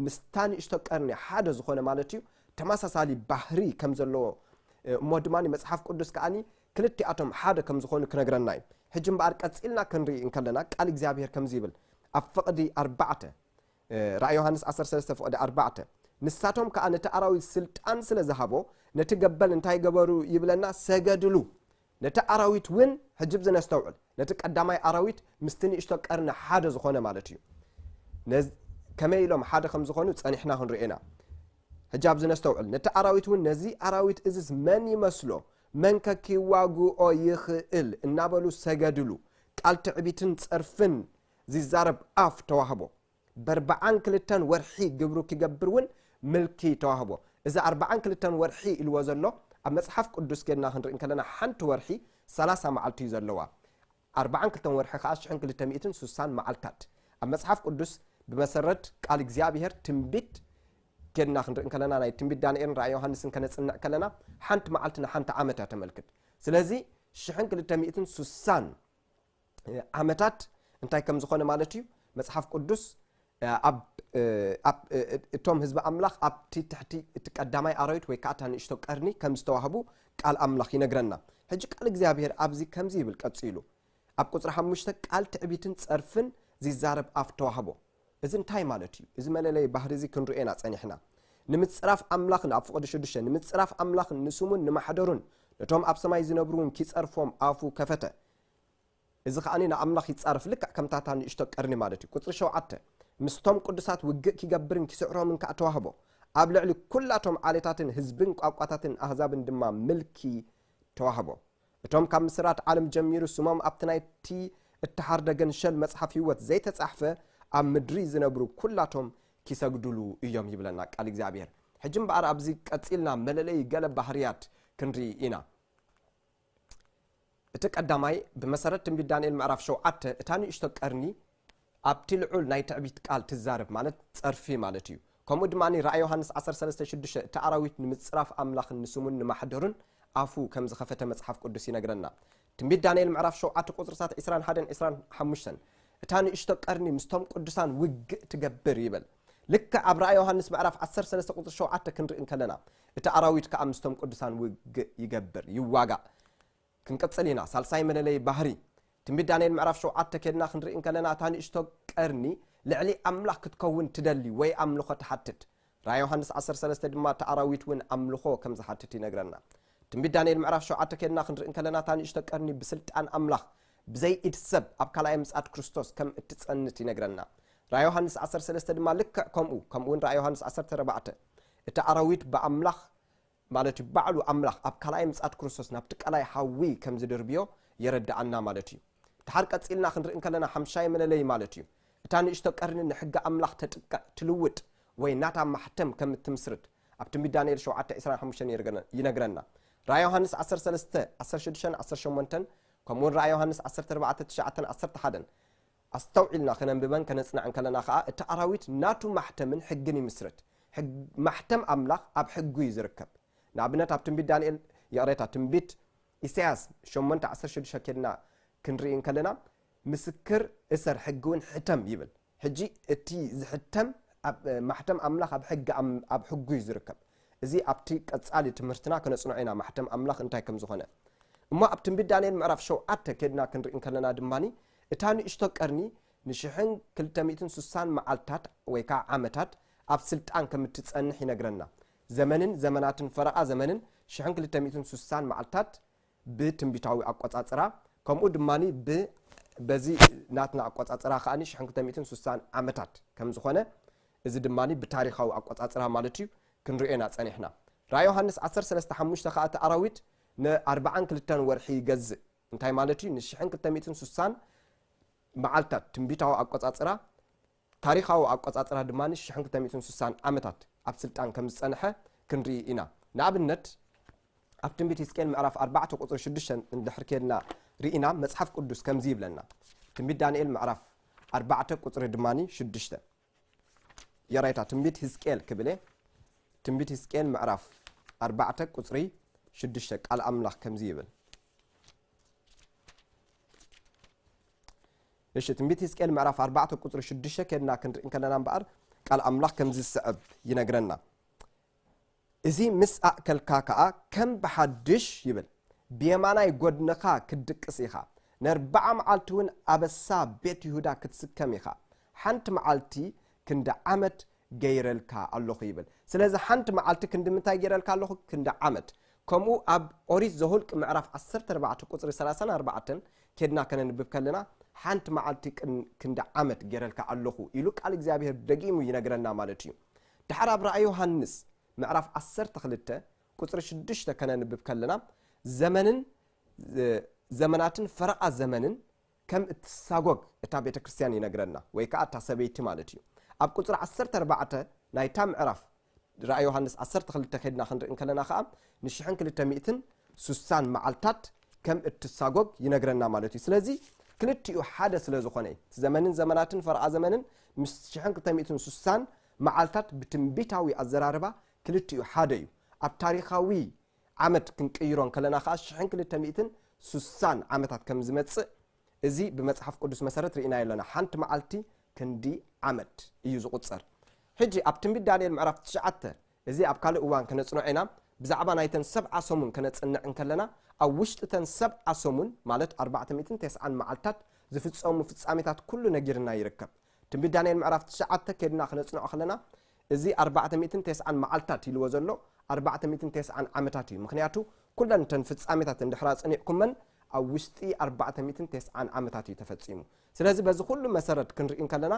ምስታ ንእሽቶ ቀርኒ ሓደ ዝኾነ ማለት እዩ ተመሳሳሊ ባህሪ ከም ዘለዎ እሞ ድማ መጽሓፍ ቅዱስ ከዓኒ ክልቲኣቶም ሓደ ከም ዝኾኑ ክነግረና እዩ። ሕጂ እምበኣር ቀጺልና ክንርኢ እንከለና ቃል እግዚኣብሄር ከምዚ ይብል ኣብ ፍቕዲ ኣርባዕተ ራእይ ዮሃንስ ዓሰርተ ሰለስተ ፍቕዲ ኣርባዕተ ንሳቶም ከኣ ነቲ ኣራዊት ስልጣን ስለ ዝሃቦ ነቲ ገበል እንታይ ገበሩ ይብለና ሰገድሉ ነቲ ኣራዊት እውን ሕጂ ብዚ ነስተውዕል ነቲ ቀዳማይ ኣራዊት ምስቲ ንእሽቶ ቀርኒ ሓደ ዝኾነ ማለት እዩ ከመይ ኢሎም ሓደ ከም ዝኾኑ ጸኒሕና ክንርኤና ሕጂ ኣብዚ ነስተውዕል ነቲ ኣራዊት እውን ነዚ ኣራዊት እዝስ መን ይመስሎ መንከ ኪዋግኦ ይኽእል እናበሉ ሰገድሉ። ቃል ትዕቢትን ጸርፍን ዚዛረብ ኣፍ ተዋህቦ። በርብዓን ክልተን ወርሒ ግብሩ ኪገብር እውን ምልኪ ተዋህቦ። እዚ ኣርብዓን ክልተን ወርሒ ኢልዎ ዘሎ፣ ኣብ መጽሓፍ ቅዱስ ኬድና ክንርኢ እንከለና ሓንቲ ወርሒ ሰላሳ መዓልቲ እዩ ዘለዋ። ኣርብዓን ክልተን ወርሒ ኸኣ ሽሕን ክልተ ሚእትን ሱሳን መዓልታት። ኣብ መጽሓፍ ቅዱስ ብመሰረት ቃል እግዚኣብሄር ትንቢት ኬድና ክንርኢ ከለና ናይ ትንቢት ዳንኤልን ራእይ ዮሃንስን ከነጽንዕ ከለና ሓንቲ መዓልቲ ንሓንቲ ዓመት እያ ተመልክት። ስለዚ ሽሕን ክልተ ሚእትን ሱሳን ዓመታት እንታይ ከም ዝኾነ ማለት እዩ መጽሓፍ ቅዱስ እቶም ህዝቢ ኣምላኽ ኣብቲ ትሕቲ እቲ ቀዳማይ ኣራዊት ወይ ከኣ እታ ንእሽቶ ቀርኒ ከም ዝተዋህቡ ቃል ኣምላኽ ይነግረና። ሕጂ ቃል እግዚኣብሄር ኣብዚ ከምዚ ይብል ቀጺሉ ኣብ ቁጽሪ ሓሙሽተ ቃል ትዕቢትን ጸርፍን ዚዛረብ ኣፍ ተዋህቦ። እዚ እንታይ ማለት እዩ? እዚ መለለዪ ባህሪ እዚ ክንርእዮ ኢና ጸኒሕና። ንምጽራፍ ኣምላኽን ኣብ ፍቕዲ ሽዱሽተ ንምጽራፍ ኣምላኽን ንስሙን ንማሕደሩን ነቶም ኣብ ሰማይ ዚነብሩውን ኪጸርፎም ኣፉ ከፈተ። እዚ ኸኣ ንኣምላኽ ይጻረፍ፣ ልክዕ ከምታ እታ ንእሽቶ ቀርኒ ማለት እዩ። ቍጽሪ ሸውዓተ፣ ምስቶም ቅዱሳት ውግእ ኪገብርን ኪስዕሮምን ከኣ ተዋህቦ፣ ኣብ ልዕሊ ኵላቶም ዓሌታትን ህዝብን ቋንቋታትን ኣህዛብን ድማ ምልኪ ተዋህቦ። እቶም ካብ ምስራት ዓለም ጀሚሩ ስሞም ኣብቲ ናይቲ እተሓርደ ገንሸል መጽሓፍ ህይወት ዘይተጻሕፈ ኣብ ምድሪ ዚነብሩ ኵላቶም ኪሰግዱሉ እዮም ይብለና ቃል እግዚኣብሄር። ሕጂ እምበኣር ኣብዚ ቀጺልና መለለዪ ገለ ባህርያት ክንርኢ ኢና። እቲ ቀዳማይ፣ ብመሰረት ትንቢት ዳንኤል ምዕራፍ ሸውዓተ፣ እታ ንእሽቶ ቀርኒ ኣብቲ ልዑል ናይ ትዕቢት ቃል ትዛረብ፣ ማለት ጸርፊ ማለት እዩ። ከምኡ ድማ ራእይ ዮሃንስ ዓሰርተ ሰለስተ ሽዱሽተ፣ እቲ ኣራዊት ንምጽራፍ ኣምላኽን ንስሙን ንማሕደሩን ኣፉ ከም ዝኸፈተ መጽሓፍ ቅዱስ ይነግረና። ትንቢት ዳንኤል ምዕራፍ ሸውዓተ ቁጽርታት ዕስራን ሓደን ዕስራን ሓሙሽተን፣ እታ ንእሽቶ ቀርኒ ምስቶም ቅዱሳን ውግእ ትገብር ይብል። ልክዕ ኣብ ራእይ ዮሃንስ ምዕራፍ ዓሰርተ ሰለስተ ቁጽሪ ሸውዓተ ክንርኢ እንከለና፣ እቲ ኣራዊት ከኣ ምስቶም ቅዱሳን ውግእ ይገብር፣ ይዋጋእ። ክንቅጽል ኢና። ሳልሳይ መለለዪ ባህሪ። ትንቢት ዳንኤል ምዕራፍ ሸውዓተ ኬድና ክንርኢ እንከለና እታ ንእሽቶ ቀርኒ ልዕሊ ኣምላኽ ክትከውን ትደሊ ወይ ኣምልኾ ትሓትት። ራእይ ዮሃንስ ዓሰርተ ሰለስተ ድማ እቲ ኣራዊት እውን ኣምልኾ ከም ዝሓትት ይነግረና። ትንቢት ዳንኤል ምዕራፍ ሸውዓተ ኬድና ክንርኢ እንከለና እታ ንእሽቶ ቀርኒ ብስልጣን ኣምላኽ ብዘይ ኢድ ሰብ ኣብ ካልኣይ ምጽኣት ክርስቶስ ከም እትጸንት ይነግረና። ራእይ ዮሃንስ ዓሰርተ ሰለስተ ድማ ልክዕ ከምኡ ከምኡውን ራእይ ዮሃንስ ዓሰርተ ኣርባዕተ እቲ ኣራዊት ብኣምላኽ ማለት እዩ ባዕሉ ኣምላኽ ኣብ ካልኣይ ምጽኣት ክርስቶስ ናብቲ ቀላይ ሓዊ ከም ዝድርብዮ የረድኣና ማለት እዩ። ድሓር ቀጺልና ክንርኢ እንከለና ሓምሻይ መለለዪ ማለት እዩ እታ ንእሽቶ ቀርኒ ንሕጊ ኣምላኽ ተጥቅዕ፣ ትልውጥ፣ ወይ ናታ ማሕተም ከም እትምስርት ኣብቲ ብ ዳንኤል ሸውዓተ ዕስራን ሓሙሽተን ይነግረና። ራእይ ዮሃንስ ዓሰርተ ሰለስተ ዓሰርተ ሽዱሽተን ዓሰርተ ሸሞንተን ከምኡውን ራእይ ዮሃንስ ዓሰርተ ኣርባዕተ ትሽዓተን ዓሰርተ ሓደን ኣስተውዒልና ከነንብበን ከነጽንዐን ከለና ከኣ እቲ ኣራዊት ናቱ ማሕተምን ሕግን ይምስርት። ሕግ ማሕተም ኣምላኽ ኣብ ሕጉ እዩ ዝርከብ። ንኣብነት ኣብ ትንቢት ዳንኤል ይቕሬታ ትንቢት ኢሳይያስ ሸሞንተ ዓሰርተ ሽዱሽተ ኬድና ክንርኢ እንከለና ምስክር እሰር ሕግውን ሕተም ይብል። ሕጂ እቲ ዝሕተም ኣብ ማሕተም ኣምላኽ ኣብ ሕግ ኣብ ሕጉ እዩ ዝርከብ። እዚ ኣብቲ ቀጻሊ ትምህርትና ከነጽንዖ ኢና ማሕተም ኣምላኽ እንታይ ከም ዝኾነ። እሞ ኣብ ትንቢት ዳንኤል ምዕራፍ ሸውዓተ ኬድና ክንርኢ እንከለና ድማ እታ ንእሽቶ ቀርኒ ንሽሕን ክልተ ሚእትን ሱሳን መዓልትታት ወይ ከኣ ዓመታት ኣብ ስልጣን ከም እትጸንሕ ይነግረና። ዘመንን ዘመናትን ፈረቓ ዘመንን ሽሕን ክልተ ሚእትን ሱሳን መዓልትታት ብትንቢታዊ ኣቆጻጽራ ከምኡ ድማ ብ በዚ ናትና ኣቆጻጽራ ከኣ ሽሕን ክልተ ሚእትን ሱሳን ዓመታት ከም ዝኾነ እዚ ድማ ብታሪኻዊ ኣቆጻጽራ ማለት እዩ ክንርእዮ ኢና ጸኒሕና። ራእይ ዮሃንስ ዓሰርተ ሰለስተ ሓሙሽተ ከኣ እቲ ኣራዊት ንኣርብዓን ክልተን ወርሒ ይገዝእ። እንታይ ማለት እዩ? ንሽሕን ክልተ ሚእትን ስሳን መዓልታት ትንቢታዊ ኣቆጻጽራ ታሪኻዊ ኣቆጻጽራ ድማ ሽሕን ክልተ ሚእትን ስሳን ዓመታት ኣብ ስልጣን ከም ዝጸንሐ ክንርኢ ኢና። ንኣብነት ኣብ ትንቢት ህዝቅኤል ምዕራፍ ኣርባዕተ ቁጽሪ ሽዱሽተ እንድሕር ኬድና ርኢና መጽሓፍ ቅዱስ ከምዚ ይብለና። ትንቢት ዳንኤል ምዕራፍ ኣርባዕተ ቁጽሪ ድማ ሽዱሽተ የራይታ ትንቢት ህዝቅኤል ክብለ ትንቢት ህዝቅኤል ምዕራፍ ኣርባዕተ ቁፅሪ ሽዱሽተ ቃል ኣምላኽ ከምዚ ይብል እሺ ትንቢት ህዝቅኤል ምዕራፍ ኣርባዕተ ቁፅሪ ሽዱሽተ ከድና ክንርኢ ከለና እምበኣር ቃል ኣምላኽ ከምዚ ዝስዕብ ይነግረና እዚ ምስ ኣእከልካ ከኣ ከም ብሓድሽ ይብል ብየማናይ ጐድንኻ ክትድቅስ ኢኻ፣ ነርብዓ መዓልቲውን ኣበሳ ቤት ይሁዳ ክትስከም ኢኻ፣ ሓንቲ መዓልቲ ክንዲ ዓመት ገይረልካ ኣሎኹ ይብል። ስለዚ ሓንቲ መዓልቲ ክንዲ ምንታይ ገይረልካ ኣሎኹ? ክንዲ ዓመት። ከምኡ ኣብ ኦሪት ዘሁልቅ ምዕራፍ ዓሰርተ ኣርባዕተ ቁጽሪ ሰላሳን ኣርባዕተን ኬድና ከነንብብ ከለና ሓንቲ መዓልቲ ክንዲ ዓመት ገይረልካ ኣሎኹ ኢሉ ቃል እግዚኣብሔር ደጊሙ ይነግረና ማለት እዩ። ደሓር ኣብ ራእይ ዮሃንስ ምዕራፍ ዓሰርተ ክልተ ቁጽሪ ሽዱሽተ ከነንብብ ከለና ዘመንን ዘመናትን ፈረቓ ዘመንን ከም እትሳጎግ እታ ቤተ ክርስትያን ይነግረና ወይ ከኣ እታ ሰበይቲ ማለት እዩ ኣብ ቁጽሪ ዓሰርተ ኣርባዕተ ናይታ ምዕራፍ ራእይ ዮሃንስ ዓሰርተ ክልተ ከድና ክንርኢ ከለና ከኣ ንሽሕን ክልተ ሚእትን ሱሳን መዓልታት ከም እትሳጎግ ይነግረና ማለት እዩ ስለዚ ክልቲኡ ሓደ ስለ ዝኾነ እዩ እቲ ዘመንን ዘመናትን ፈርዓ ዘመንን ምስ ሽሕን ክልተ ሚእትን ስሳን መዓልታት ብትንቢታዊ ኣዘራርባ ክልቲኡ ሓደ እዩ ኣብ ታሪኻዊ ዓመት ክንቅይሮ እንከለና ከዓ ሽሕን ክልተ ሚእትን ስሳን ዓመታት ከም ዝመፅእ እዚ ብመፅሓፍ ቅዱስ መሰረት ርኢናዮ ኣለና ሓንቲ መዓልቲ ክንዲ ዓመት እዩ ዝቁፀር ሕጂ ኣብ ትንቢት ዳንኤል ምዕራፍ ትሽዓተ እዚ ኣብ ካልእ እዋን ከነጽንዖ ኢና። ብዛዕባ ናይተን ሰብዓ ሰሙን ከነጽንዕ እንከለና፣ ኣብ ውሽጢ እተን ሰብዓ ሰሙን፣ ማለት ኣርባዕተ ሚእትን ተስዓን መዓልትታት፣ ዝፍጸሙ ፍጻሜታት ኩሉ ነጊርና ይርከብ። ትንቢት ዳንኤል ምዕራፍ ትሽዓተ ኬድና ከነጽንዖ ከለና፣ እዚ ኣርባዕተ ሚእትን ተስዓን መዓልትታት ኢልዎ ዘሎ፣ ኣርባዕተ ሚእትን ተስዓን ዓመታት እዩ። ምኽንያቱ ኩለን እተን ፍጻሜታት እንድሕር ኣጽኒዕኩመን፣ ኣብ ውሽጢ ኣርባዕተ ሚእትን ተስዓን ዓመታት እዩ ተፈጺሙ። ስለዚ በዚ ኩሉ መሰረት ክንርኢ እንከለና፣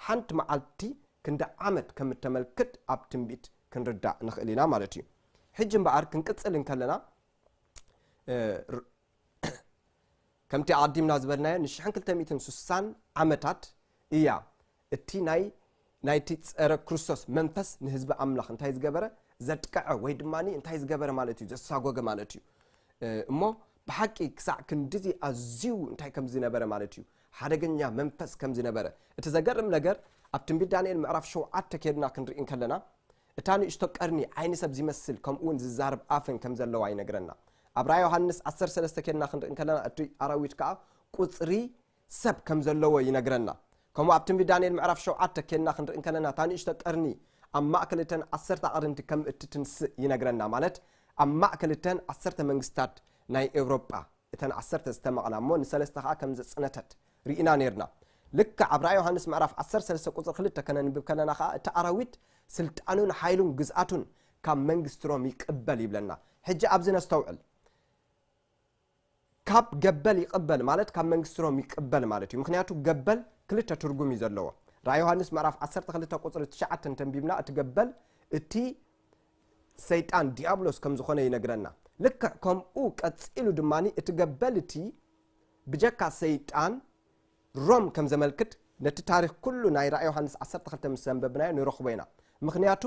ሓንቲ መዓልቲ ክንዲ ዓመት ከም እተመልክት ኣብ ትንቢት ክንርዳእ ንኽእል ኢና ማለት እዩ። ሕጂ እምበኣር ክንቅጽል እንከለና ከምቲ ኣቐዲምና ዝበልናዮ ንሽሕን ክልተ ሚእትን ስሳን ዓመታት እያ እቲ ናይ ናይቲ ጸረ ክርስቶስ መንፈስ ንህዝቢ ኣምላኽ እንታይ ዝገበረ ዘጥቀዐ ወይ ድማ እንታይ ዝገበረ ማለት እዩ ዘሳጎገ ማለት እዩ እሞ ብሓቂ ክሳዕ ክንዲዚ ኣዝዩ እንታይ ከም ዝነበረ ማለት እዩ ሓደገኛ መንፈስ ከም ዝነበረ። እቲ ዘገርም ነገር ኣብ ትንቢት ዳንኤል ምዕራፍ ሸውዓተ ኬድና ክንርኢ እንከለና እታ ንእሽቶ ቀርኒ ዓይኒ ሰብ ዚመስል ከምኡውን ዚዛረብ ኣፍን ከም ዘለዋ ይነግረና። ኣብ ራእይ ዮሃንስ ዓሰርተ ሰለስተ ኬድና ክንርኢ እንከለና እቲ ኣራዊት ከኣ ቁጽሪ ሰብ ከም ዘለዎ ይነግረና። ከምኡ ኣብ ትንቢት ዳንኤል ምዕራፍ ሸውዓተ ኬድና ክንርኢ እንከለና እታ ንእሽቶ ቀርኒ ኣብ ማእከል እተን ዓሰርተ ኣቕርንቲ ከም እትትንስእ ይነግረና ማለት ኣብ ማእከል እተን ዓሰርተ መንግስትታት ናይ ኤውሮጳ። እተን ዓሰርተ ዝተመቕላ እሞ ንሰለስተ ከኣ ከም ዘጽነተት ርኢና ኔርና። ልክዕ ኣብ ራእይ ዮሃንስ ምዕራፍ ዓሰርተ ሰለስተ ቍጽሪ ክልተ ከነንብብ ከለና ከኣ እቲ ኣራዊት ስልጣኑን ሓይሉን ግዝኣቱን ካብ መንግስቲ ሮም ይቅበል ይብለና። ሕጂ ኣብዚ ነስተውዕል። ካብ ገበል ይቅበል ማለት ካብ መንግስቲ ሮም ይቅበል ማለት እዩ። ምክንያቱ ገበል ክልተ ትርጉም እዩ ዘለዎ። ራእይ ዮሃንስ ምዕራፍ ዓሰርተ ክልተ ቍጽሪ ትሽዓተ እንተንቢብና እቲ ገበል እቲ ሰይጣን ድያብሎስ ከም ዝዀነ ይነግረና። ልክዕ ከምኡ ቀጺሉ ድማ እቲ ገበል እቲ ብጀካ ሰይጣን ሮም ከም ዘመልክት ነቲ ታሪኽ ኩሉ ናይ ራእይ ዮሃንስ ዓሰርተ ክልተ ምስ ዘንበብናዮ ንረኽቦ ኢና። ምኽንያቱ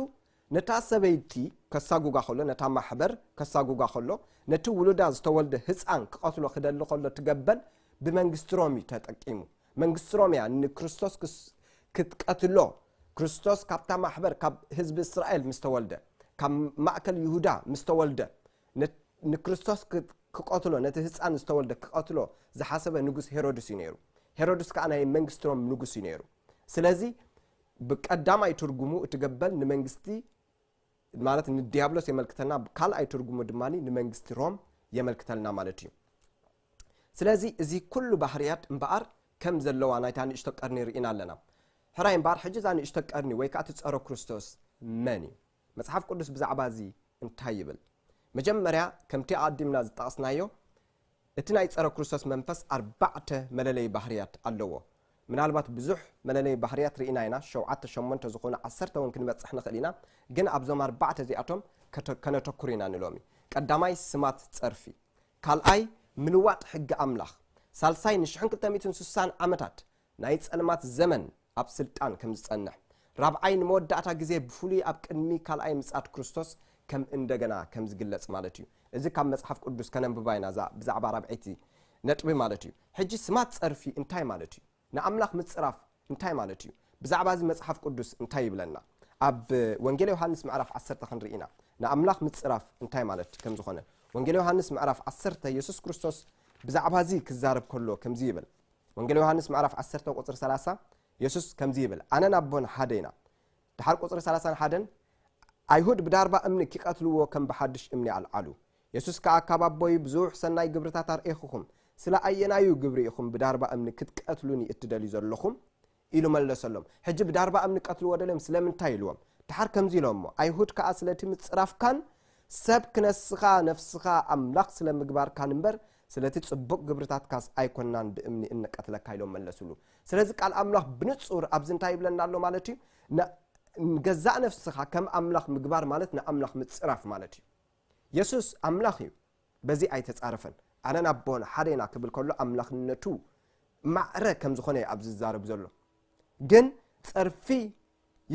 ነታ ሰበይቲ ከሳጉጋ ከሎ ነታ ማሕበር ከሳጉጋ ከሎ ነቲ ውሉዳ ዝተወልደ ህጻን ክቐትሎ ክደሊ ከሎ እቲ ገበል ብመንግስቲ ሮም እዩ ተጠቂሙ። መንግስቲ ሮሜያ ንክርስቶስ ክስ ክትቀትሎ ክርስቶስ ካብታ ማሕበር ካብ ህዝቢ እስራኤል ምስ ተወልደ ካብ ማእከል ይሁዳ ምስ ተወልደ ንክርስቶስ ክቀትሎ ነቲ ህጻን ዝተወልደ ክቀትሎ ዝሓሰበ ንጉስ ሄሮድስ እዩ ነይሩ ሄሮድስ ከኣ ናይ መንግስቲ ሮም ንጉስ እዩ ነይሩ ስለዚ ብቀዳማይ ትርጉሙ እቲ ገበል ንመንግስቲ ማለት ንዲያብሎስ የመልክተና ካልኣይ ትርጉሙ ድማ ንመንግስቲ ሮም የመልክተልና ማለት እዩ ስለዚ እዚ ኩሉ ባህርያት እምበኣር ከም ዘለዋ ናይታ ንእሽቶ ቀርኒ ርኢና ኣለና። ሕራይ እምበኣር ሕጂ እዛ ንእሽቶ ቀርኒ ወይ ከኣ እቲ ጸረ ክርስቶስ መን እዩ? መጽሓፍ ቅዱስ ብዛዕባ እዚ እንታይ ይብል? መጀመርያ ከምቲ ኣቐዲምና ዝጠቐስናዮ እቲ ናይ ጸረ ክርስቶስ መንፈስ ኣርባዕተ መለለዪ ባህርያት ኣለዎ። ምናልባት ብዙሕ መለለዪ ባህርያት ርኢና ኢና፣ ሸውዓተ ሸሞንተ ዝኾኑ ዓሰርተ እውን ክንበጽሕ ንኽእል ኢና፣ ግን ኣብዞም ኣርባዕተ እዚኣቶም ከነተኩር ኢና ንሎሚ። ቀዳማይ ስማት ጸርፊ። ካልኣይ፣ ምልዋጥ ሕጊ ኣምላኽ። ሳልሳይ፣ ንሽሕን ክልተ ሚእትን ስሳን ዓመታት ናይ ጸልማት ዘመን ኣብ ስልጣን ከም ዝጸንሕ። ራብዓይ፣ ንመወዳእታ ግዜ ብፍሉይ ኣብ ቅድሚ ካልኣይ ምጽኣት ክርስቶስ ከም እንደገና ከም ዝግለጽ ማለት እዩ። እዚ ካብ መጽሓፍ ቅዱስ ከነንብባ ኢና እዛ ብዛዕባ ራብዐይቲ ነጥቢ ማለት እዩ። ሕጂ ስማት ጸርፊ እንታይ ማለት እዩ? ንኣምላኽ ምጽራፍ እንታይ ማለት እዩ? ብዛዕባ እዚ መጽሓፍ ቅዱስ እንታይ ይብለና? ኣብ ወንጌል ዮሃንስ ምዕራፍ ዓሰርተ ክንርኢ ኢና ንኣምላኽ ምጽራፍ እንታይ ማለት ከም ዝዀነ። ወንጌል ዮሃንስ ምዕራፍ ዓሰርተ የሱስ ክርስቶስ ብዛዕባ እዚ ክዛረብ ከሎ ከምዚ ይብል። ወንጌል ዮሃንስ ምዕራፍ ዓሰርተ ቁጽሪ ሰላሳ የሱስ ከምዚ ይብል ኣነን ኣቦን ሓደ ኢና። ደሓር ቁጽሪ ሰላሳን ሓደን ኣይሁድ ብዳርባ እምኒ ኪቀትልዎ ከም ብሓድሽ እምኒ ኣልዓሉ። የሱስ ከኣ ካብ ኣቦይ ብዙሕ ሰናይ ግብርታት ኣርኤኹኹም፣ ስለ ኣየናዩ ግብሪ ኢኹም ብዳርባ እምኒ ክትቀትሉኒ እትደልዩ ዘሎኹም? ኢሉ መለሰሎም። ሕጂ ብዳርባ እምኒ ክቀትልዎ ደልዮም ስለምንታይ ኢልዎም። ደሓር ከምዚ ኢሎሞ፣ ኣይሁድ ከኣ ስለቲ ምጽራፍካን ሰብ ክነስኻ ነፍስኻ ኣምላኽ ስለ ምግባርካን እምበር፣ ስለቲ ጽቡቅ ግብርታትካስ ኣይኮናን ብእምኒ እንቀትለካ ኢሎም መለሱሉ። ስለዚ ቃል ኣምላኽ ብንጹር ኣብዚ እንታይ ይብለና ኣሎ ማለት እዩ ንገዛእ ነፍስኻ ከም ኣምላኽ ምግባር ማለት ንኣምላኽ ምጽራፍ ማለት እዩ የሱስ ኣምላኽ እዩ በዚ ኣይተጻረፈን ኣነን ኣቦን ሓደ ኢና ክብል ከሎ ኣምላኽነቱ ማዕረ ከም ዝኾነ እዩ ኣብዚ ዝዛረብ ዘሎ ግን ጸርፊ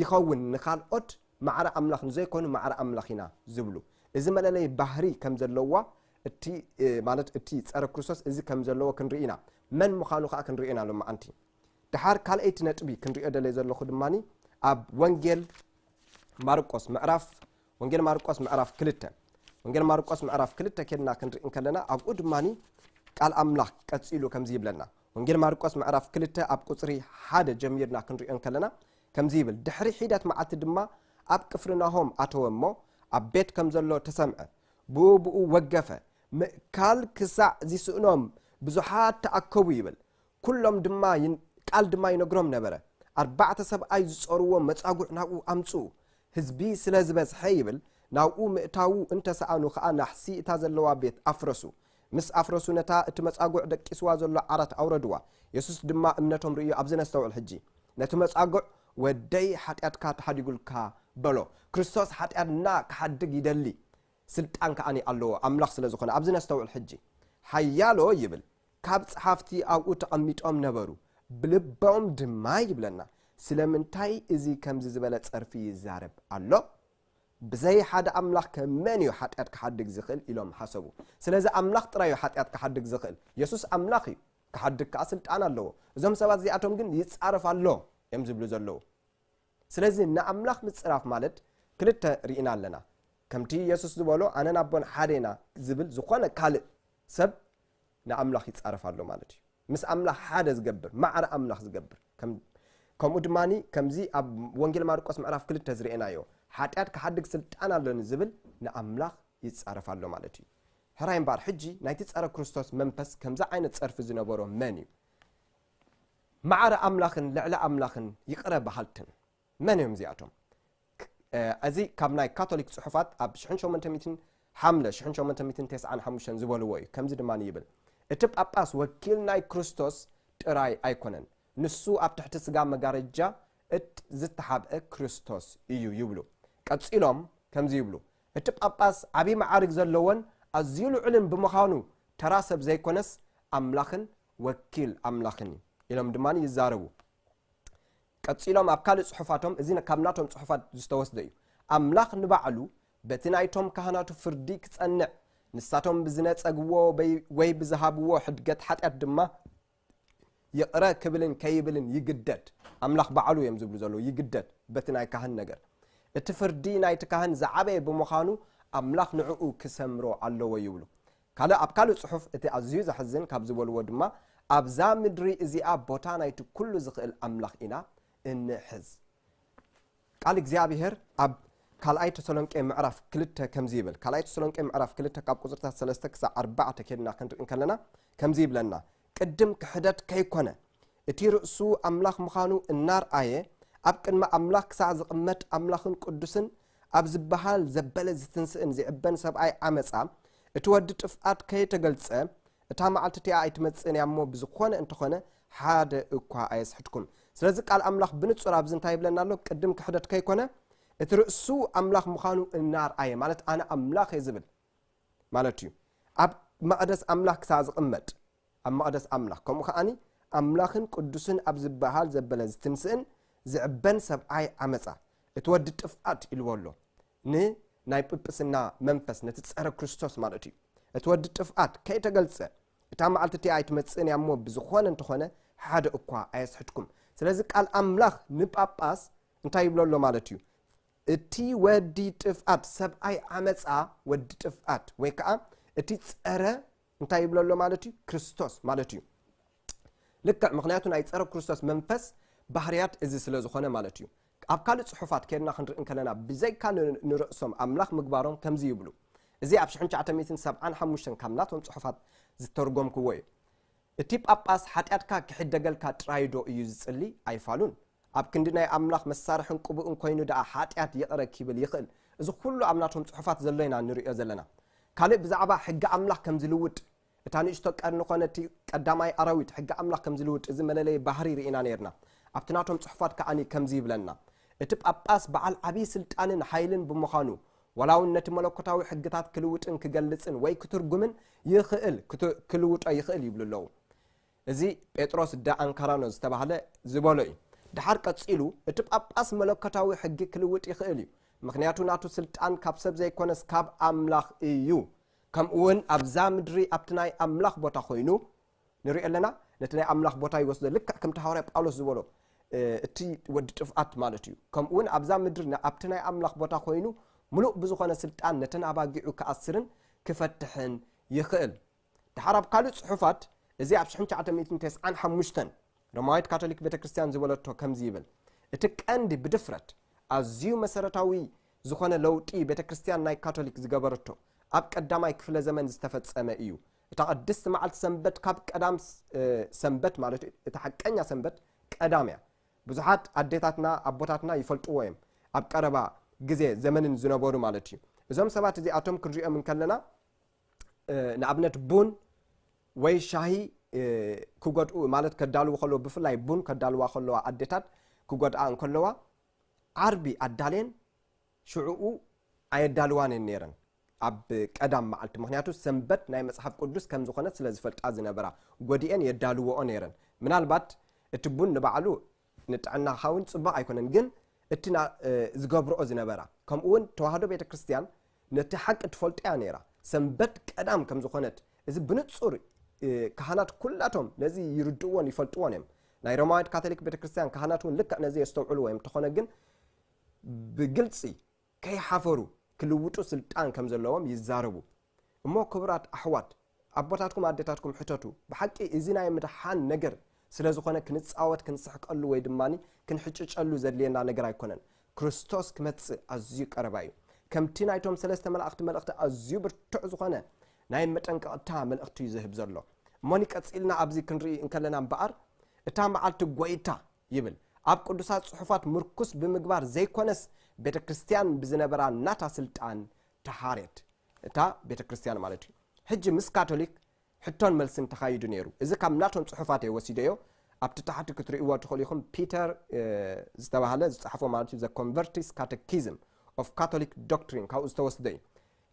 ይኸውን ንካልኦት ማዕረ ኣምላኽ ንዘይኮኑ ማዕረ ኣምላኽ ኢና ዝብሉ እዚ መለለይ ባህሪ ከም ዘለዋ እቲ ማለት እቲ ጸረ ክርስቶስ እዚ ከም ዘለዎ ክንርኢ ኢና መን ምዃኑ ከኣ ክንሪኦ ኢና ሎማዓንቲ ድሓር ካልኣይቲ ነጥቢ ክንሪኦ ደለየ ዘለኹ ድማኒ ኣብ ወንጌል ማርቆስ ምዕራፍ ወንጌል ማርቆስ ምዕራፍ ክልተ ወንጌል ማርቆስ ምዕራፍ ክልተ ኬድና ክንርኢ እንከለና ኣብኡ ድማ ቃል ኣምላኽ ቀጺሉ ከምዚ ይብለና ወንጌል ማርቆስ ምዕራፍ ክልተ ኣብ ቁፅሪ ሓደ ጀሚርና ክንሪኦ እንከለና ከምዚ ይብል ድሕሪ ሒደት መዓልቲ ድማ ኣብ ቅፍርናሆም ኣተወ እሞ ኣብ ቤት ከም ዘሎ ተሰምዐ ብኡብኡ ወገፈ ምእካል ክሳዕ ዚስእኖም ብዙሓት ተኣከቡ ይብል ኵሎም ድማ ቃል ድማ ይነግሮም ነበረ። ኣርባዕተ ሰብኣይ ዝጾርዎ መጻጉዕ ናብኡ ኣምጽኡ። ህዝቢ ስለ ዝበዝሐ ይብል ናብኡ ምእታዉ እንተ ሰኣኑ ከኣ ናሕሲ እታ ዘለዋ ቤት ኣፍረሱ። ምስ ኣፍረሱ ነታ እቲ መጻጉዕ ደቂስዋ ዘሎ ዓራት ኣውረድዋ። የሱስ ድማ እምነቶም ርእዩ ኣብዚ ነስተውዕል ሕጂ። ነቲ መጻጉዕ ወደይ ሓጢኣትካ ተሓዲጉልካ በሎ። ክርስቶስ ሓጢኣትና ክሓድግ ይደሊ ስልጣን ከኣ ኣሎዎ ኣምላኽ ስለ ዝኾነ። ኣብዚ ነስተውዕል ሕጂ። ሓያሎ ይብል። ካብ ጸሓፍቲ ኣብኡ ተቐሚጦም ነበሩ፣ ብልቦም ድማ ይብለና፣ ስለምንታይ እዚ ከምዚ ዝበለ ጸርፊ ይዛረብ ኣሎ? ብዘይ ሓደ ኣምላኽከ መን እዩ ሓጢኣት ክሓድግ ዝኽእል? ኢሎም ሓሰቡ። ስለዚ ኣምላኽ ጥራይ እዩ ሓጢኣት ክሓድግ ዝኽእል። የሱስ ኣምላኽ እዩ፣ ክሓድግ ከኣ ስልጣን ኣለዎ። እዞም ሰባት እዚኣቶም ግን ይጻረፍ ኣሎ እዮም ዝብሉ ዘለዉ። ስለዚ ንኣምላኽ ምጽራፍ ማለት ክልተ ርኢና ኣለና፣ ከምቲ የሱስ ዝበሎ ኣነን ኣቦን ሓደ ኢና ዝብል ዝኾነ ካልእ ሰብ ንኣምላኽ ይጻረፍ ኣሎ ማለት እዩ። ምስ ኣምላኽ ሓደ ዝገብር፣ ማዕረ ኣምላኽ ዝገብር፣ ከም ከምኡ ድማ ከምዚ ኣብ ወንጌል ማርቆስ ምዕራፍ ክልተ ዝርኤናዮ ሓጢኣት ክሓድግ ስልጣን ኣሎኒ ዝብል ንኣምላኽ ይጻረፍ ኣሎ ማለት እዩ። ሕራይ እምበኣር ሕጂ ናይቲ ጸረ ክርስቶስ መንፈስ ከምዚ ዓይነት ጸርፊ ዝነበሮ መን እዩ? ማዕረ ኣምላኽን ልዕሊ ኣምላኽን ይቕረ በሃልትን መን እዮም እዚኣቶም? እዚ ካብ ናይ ካቶሊክ ጽሑፋት ኣብ ሽሕን ሸሞንተ ሚእትን ሓምለ ሽሕን ሸሞንተ ሚእትን ተስዓን ሓሙሽተን ዝበልዎ እዩ። ከምዚ ድማ ይብል፣ እቲ ጳጳስ ወኪል ናይ ክርስቶስ ጥራይ ኣይኮነን፣ ንሱ ኣብ ትሕቲ ስጋ መጋረጃ እት ዝተሓብአ ክርስቶስ እዩ ይብሉ። ቀጺሎም ከምዚ ይብሉ፣ እቲ ጳጳስ ዓቢ መዓርግ ዘለዎን ኣዝዩ ልዑልን ብምዃኑ ተራ ሰብ ዘይኮነስ ኣምላኽን ወኪል ኣምላኽን እዩ ኢሎም ድማ ይዛረቡ። ቀጺሎም ኣብ ካልእ ጽሑፋቶም እዚ ካብ ናቶም ጽሑፋት ዝተወስደ እዩ ኣምላኽ ንባዕሉ በቲ ናይቶም ካህናቱ ፍርዲ ክጸንዕ ንሳቶም ብዝነጸግዎ ወይ ብዝሃብዎ ሕድገት ሓጢኣት ድማ ይቕረ ክብልን ከይብልን ይግደድ ኣምላኽ ባዕሉ እዮም ዝብሉ ዘለዉ ይግደድ በቲ ናይ ካህን ነገር እቲ ፍርዲ ናይቲ ካህን ዝዓበየ ብምዃኑ ኣምላኽ ንዕኡ ክሰምሮ ኣለዎ ይብሉ ካልእ ኣብ ካልእ ጽሑፍ እቲ ኣዝዩ ዘሕዝን ካብ ዝበልዎ ድማ ኣብዛ ምድሪ እዚኣ ቦታ ናይቲ ኩሉ ዝኽእል ኣምላኽ ኢና እንሕዝ። ቃል እግዚኣብሄር ኣብ ካልኣይ ተሰሎንቄ ምዕራፍ ክልተ ከምዚ ይብል። ካልኣይ ተሰሎንቄ ምዕራፍ ክልተ ካብ ቁጽርታት ሰለስተ ክሳዕ ኣርባዕተ ኬድና ክንርኢ እንከለና ከምዚ ይብለና ቅድም ክሕደት ከይኰነ፣ እቲ ርእሱ ኣምላኽ ምዃኑ እናርኣየ ኣብ ቅድሚ ኣምላኽ ክሳዕ ዝቕመጥ ኣምላኽን ቅዱስን ኣብ ዝበሃል ዘበለ ዝትንስእን ዚዕበን ሰብኣይ ዓመጻ እቲ ወዲ ጥፍኣት ከየተገልጸ እታ መዓልቲ እቲኣ ኣይትመጽእን እያ እሞ ብዝኾነ እንተኾነ ሓደ እኳ ኣየስሕትኩም ስለዚ ቃል ኣምላኽ ብንጹር ኣብዚ እንታይ ይብለና ኣሎ ቅድም ክሕደት ከይኮነ እቲ ርእሱ ኣምላኽ ምዃኑ እናርኣየ ማለት ኣነ ኣምላኽ እየ ዝብል ማለት እዩ ኣብ መቕደስ ኣምላኽ ክሳብ ዝቕመጥ ኣብ መቕደስ ኣምላኽ ከምኡ ከዓኒ ኣምላኽን ቅዱስን ኣብ ዝበሃል ዘበለ ዝትንስእን ዝዕበን ሰብኣይ ዓመፃ እቲ ወዲ ጥፍኣት ኢልዎ ኣሎ ንናይ ጵጵስና መንፈስ ነቲ ፀረ ክርስቶስ ማለት እዩ እቲ ወዲ ጥፍኣት ከይተገልፀ እታ መዓልቲ እቲኣ ኣይትመፅእን እያ እሞ ብዝኾነ እንተኾነ ሓደ እኳ ኣየስሕትኩም ስለዚ ቃል ኣምላኽ ንጳጳስ እንታይ ይብሎ ኣሎ ማለት እዩ እቲ ወዲ ጥፍኣት፣ ሰብኣይ ዓመጻ፣ ወዲ ጥፍኣት፣ ወይ ከኣ እቲ ጸረ እንታይ ይብሎ ኣሎ ማለት እዩ? ክርስቶስ ማለት እዩ። ልክዕ ምክንያቱ ናይ ጸረ ክርስቶስ መንፈስ ባህርያት እዚ ስለ ዝኾነ ማለት እዩ። ኣብ ካልእ ጽሑፋት ኬድና ክንርኢ እንከለና ብዘይካ ንርእሶም ኣምላኽ ምግባሮም ከምዚ ይብሉ። እዚ ኣብ ሽሕን ትሽዓተ ሚእትን ሰብዓን ሓሙሽተን ካብ ናቶም ጽሑፋት ዝተርጎምክዎ እዩ። እቲ ጳጳስ ሓጢኣትካ ኪሕደገልካ ጥራይዶ እዩ ዚጽሊ? ኣይፋሉን። ኣብ ክንዲ ናይ ኣምላኽ መሳርሕን ቅቡእን ኰይኑ ደኣ ሓጢኣት ይቕረ ኪብል ይኽእል። እዚ ዅሉ ኣብ ናቶም ጽሑፋት ዘሎ ኢና እንርእዮ ዘለና። ካልእ ብዛዕባ ሕጊ ኣምላኽ ከም ዚልውጥ፣ እታ ንእሽቶ ቀርኒ ዀነ እቲ ቀዳማይ ኣራዊት ሕጊ ኣምላኽ ከም ዚልውጥ እዚ መለለዪ ባህርይ ርኢና ኔርና። ኣብቲ ናቶም ጽሑፋት ከኣ ከምዚ ይብለና እቲ ጳጳስ በዓል ዓብዪ ስልጣንን ሓይልን ብምዃኑ ዋላውን ነቲ መለኮታዊ ሕግታት ክልውጥን ክገልጽን ወይ ክትርጉምን ይኽእል፣ ክልውጦ ይኽእል ይብሉ ኣለዉ። እዚ ጴጥሮስ ደ ኣንካራኖ ዝተባህለ ዝበሎ እዩ። ደሓር ቀጺሉ እቲ ጳጳስ መለኮታዊ ሕጊ ክልውጥ ይኽእል እዩ፣ ምኽንያቱ ናቱ ስልጣን ካብ ሰብ ዘይኮነስ ካብ ኣምላኽ እዩ፣ ከምኡውን ኣብዛ ምድሪ ኣብቲ ናይ ኣምላኽ ቦታ ኮይኑ ንሪኦ ኣለና ነቲ ናይ ኣምላኽ ቦታ ይወስዶ ልክዕ ከምቲ ሃዋርያ ጳውሎስ ዝበሎ እቲ ወዲ ጥፍኣት ማለት እዩ ከምኡውን ኣብዛ ምድሪ ኣብቲ ናይ ኣምላኽ ቦታ ኮይኑ ምሉእ ብዝኾነ ስልጣን ነተን ኣባጊዑ ክኣስርን ክፈትሕን ይኽእል ድሓር ኣብ ካልእ ጽሑፋት እዚ ኣብ 1995 ሮማዊት ካቶሊክ ቤተ ክርስትያን ዝበለቶ ከምዚ ይብል እቲ ቀንዲ ብድፍረት ኣዝዩ መሰረታዊ ዝኾነ ለውጢ ቤተ ክርስትያን ናይ ካቶሊክ ዝገበረቶ ኣብ ቀዳማይ ክፍለ ዘመን ዝተፈጸመ እዩ እታ ቅድስቲ መዓልቲ ሰንበት ካብ ቀዳም ሰንበት ማለት እዩ እታ ሓቀኛ ሰንበት ቀዳም እያ ብዙሓት ኣዴታትና ኣቦታትና ይፈልጥዎ እዮም ኣብ ቀረባ ግዜ ዘመንን ዝነበሩ ማለት እዩ እዞም ሰባት እዚኣቶም ክንሪኦም እንከለና ንኣብነት ቡን ወይ ሻሂ ክጎድኡ ማለት ከዳልዉ ከለዎ ብፍላይ ቡን ከዳልዋ ከለዋ ኣዴታት ክጎድኣ እንከለዋ ዓርቢ ኣዳልየን ሽዑኡ ኣየዳልዋን እየን ነይረን ኣብ ቀዳም መዓልቲ፣ ምኽንያቱ ሰንበት ናይ መጽሓፍ ቅዱስ ከም ዝዀነት ስለ ዝፈልጣ ዝነበራ፣ ጐዲኤን የዳልውኦ ነይረን። ምናልባት እቲ ቡን ንባዕሉ ንጥዕናኻ እውን ጽቡቕ ኣይኰነን፣ ግን እቲ ዝገብርኦ ዝነበራ፣ ከምኡውን ተዋህዶ ቤተ ክርስትያን ነቲ ሓቂ ትፈልጦ እያ ነይራ፣ ሰንበት ቀዳም ከም ዝዀነት፣ እዚ ብንጹር ካህናት ኵላቶም ነዚ ይርድእዎን ይፈልጥዎን እዮም። ናይ ሮማዊት ካቶሊክ ቤተ ክርስትያን ካህናት እውን ልክዕ ነዚ የስተውዕልዎ እዮም፣ እንተዀነ ግን ብግልፂ ከይሓፈሩ ክልውጡ ስልጣን ከም ዘለዎም ይዛረቡ እሞ ክብራት ኣሕዋት ኣቦታትኩም ኣዴታትኩም ሕተቱ ብሓቂ እዚ ናይ ምድሓን ነገር ስለ ዝኾነ ክንፃወት ክንስሕቀሉ ወይ ድማ ክንሕጭጨሉ ዘድልየና ነገር ኣይኮነን ክርስቶስ ክመፅእ ኣዝዩ ቀረባ እዩ ከምቲ ናይቶም ሰለስተ መላእኽቲ መልእኽቲ ኣዝዩ ብርቱዕ ዝኾነ ናይ መጠንቀቕታ መልእኽቲ እዩ ዝህብ ዘሎ እሞኒ ቀፂልና ኣብዚ ክንርኢ እንከለና እምበኣር እታ መዓልቲ ጎይታ ይብል ኣብ ቅዱሳት ጽሑፋት ምርኩስ ብምግባር ዘይኮነስ ቤተ ክርስትያን ብዝነበራ ናታ ስልጣን ተሓርየት እታ ቤተ ክርስትያን ማለት እዩ ሕጂ ምስ ካቶሊክ ሕቶን መልስን ተኻይዱ ነይሩ እዚ ካብ ናቶም ጽሑፋት እየ ወሲደዮ ኣብቲ ታሕቲ ክትርእይዎ ትኽእሉ ኢኹም ፒተር ዝተባህለ ዝጸሓፎ ማለት እዩ ዘ ኮንቨርቲስ ካተኪዝም ኦፍ ካቶሊክ ዶክትሪን ካብኡ ዝተወስደ እዩ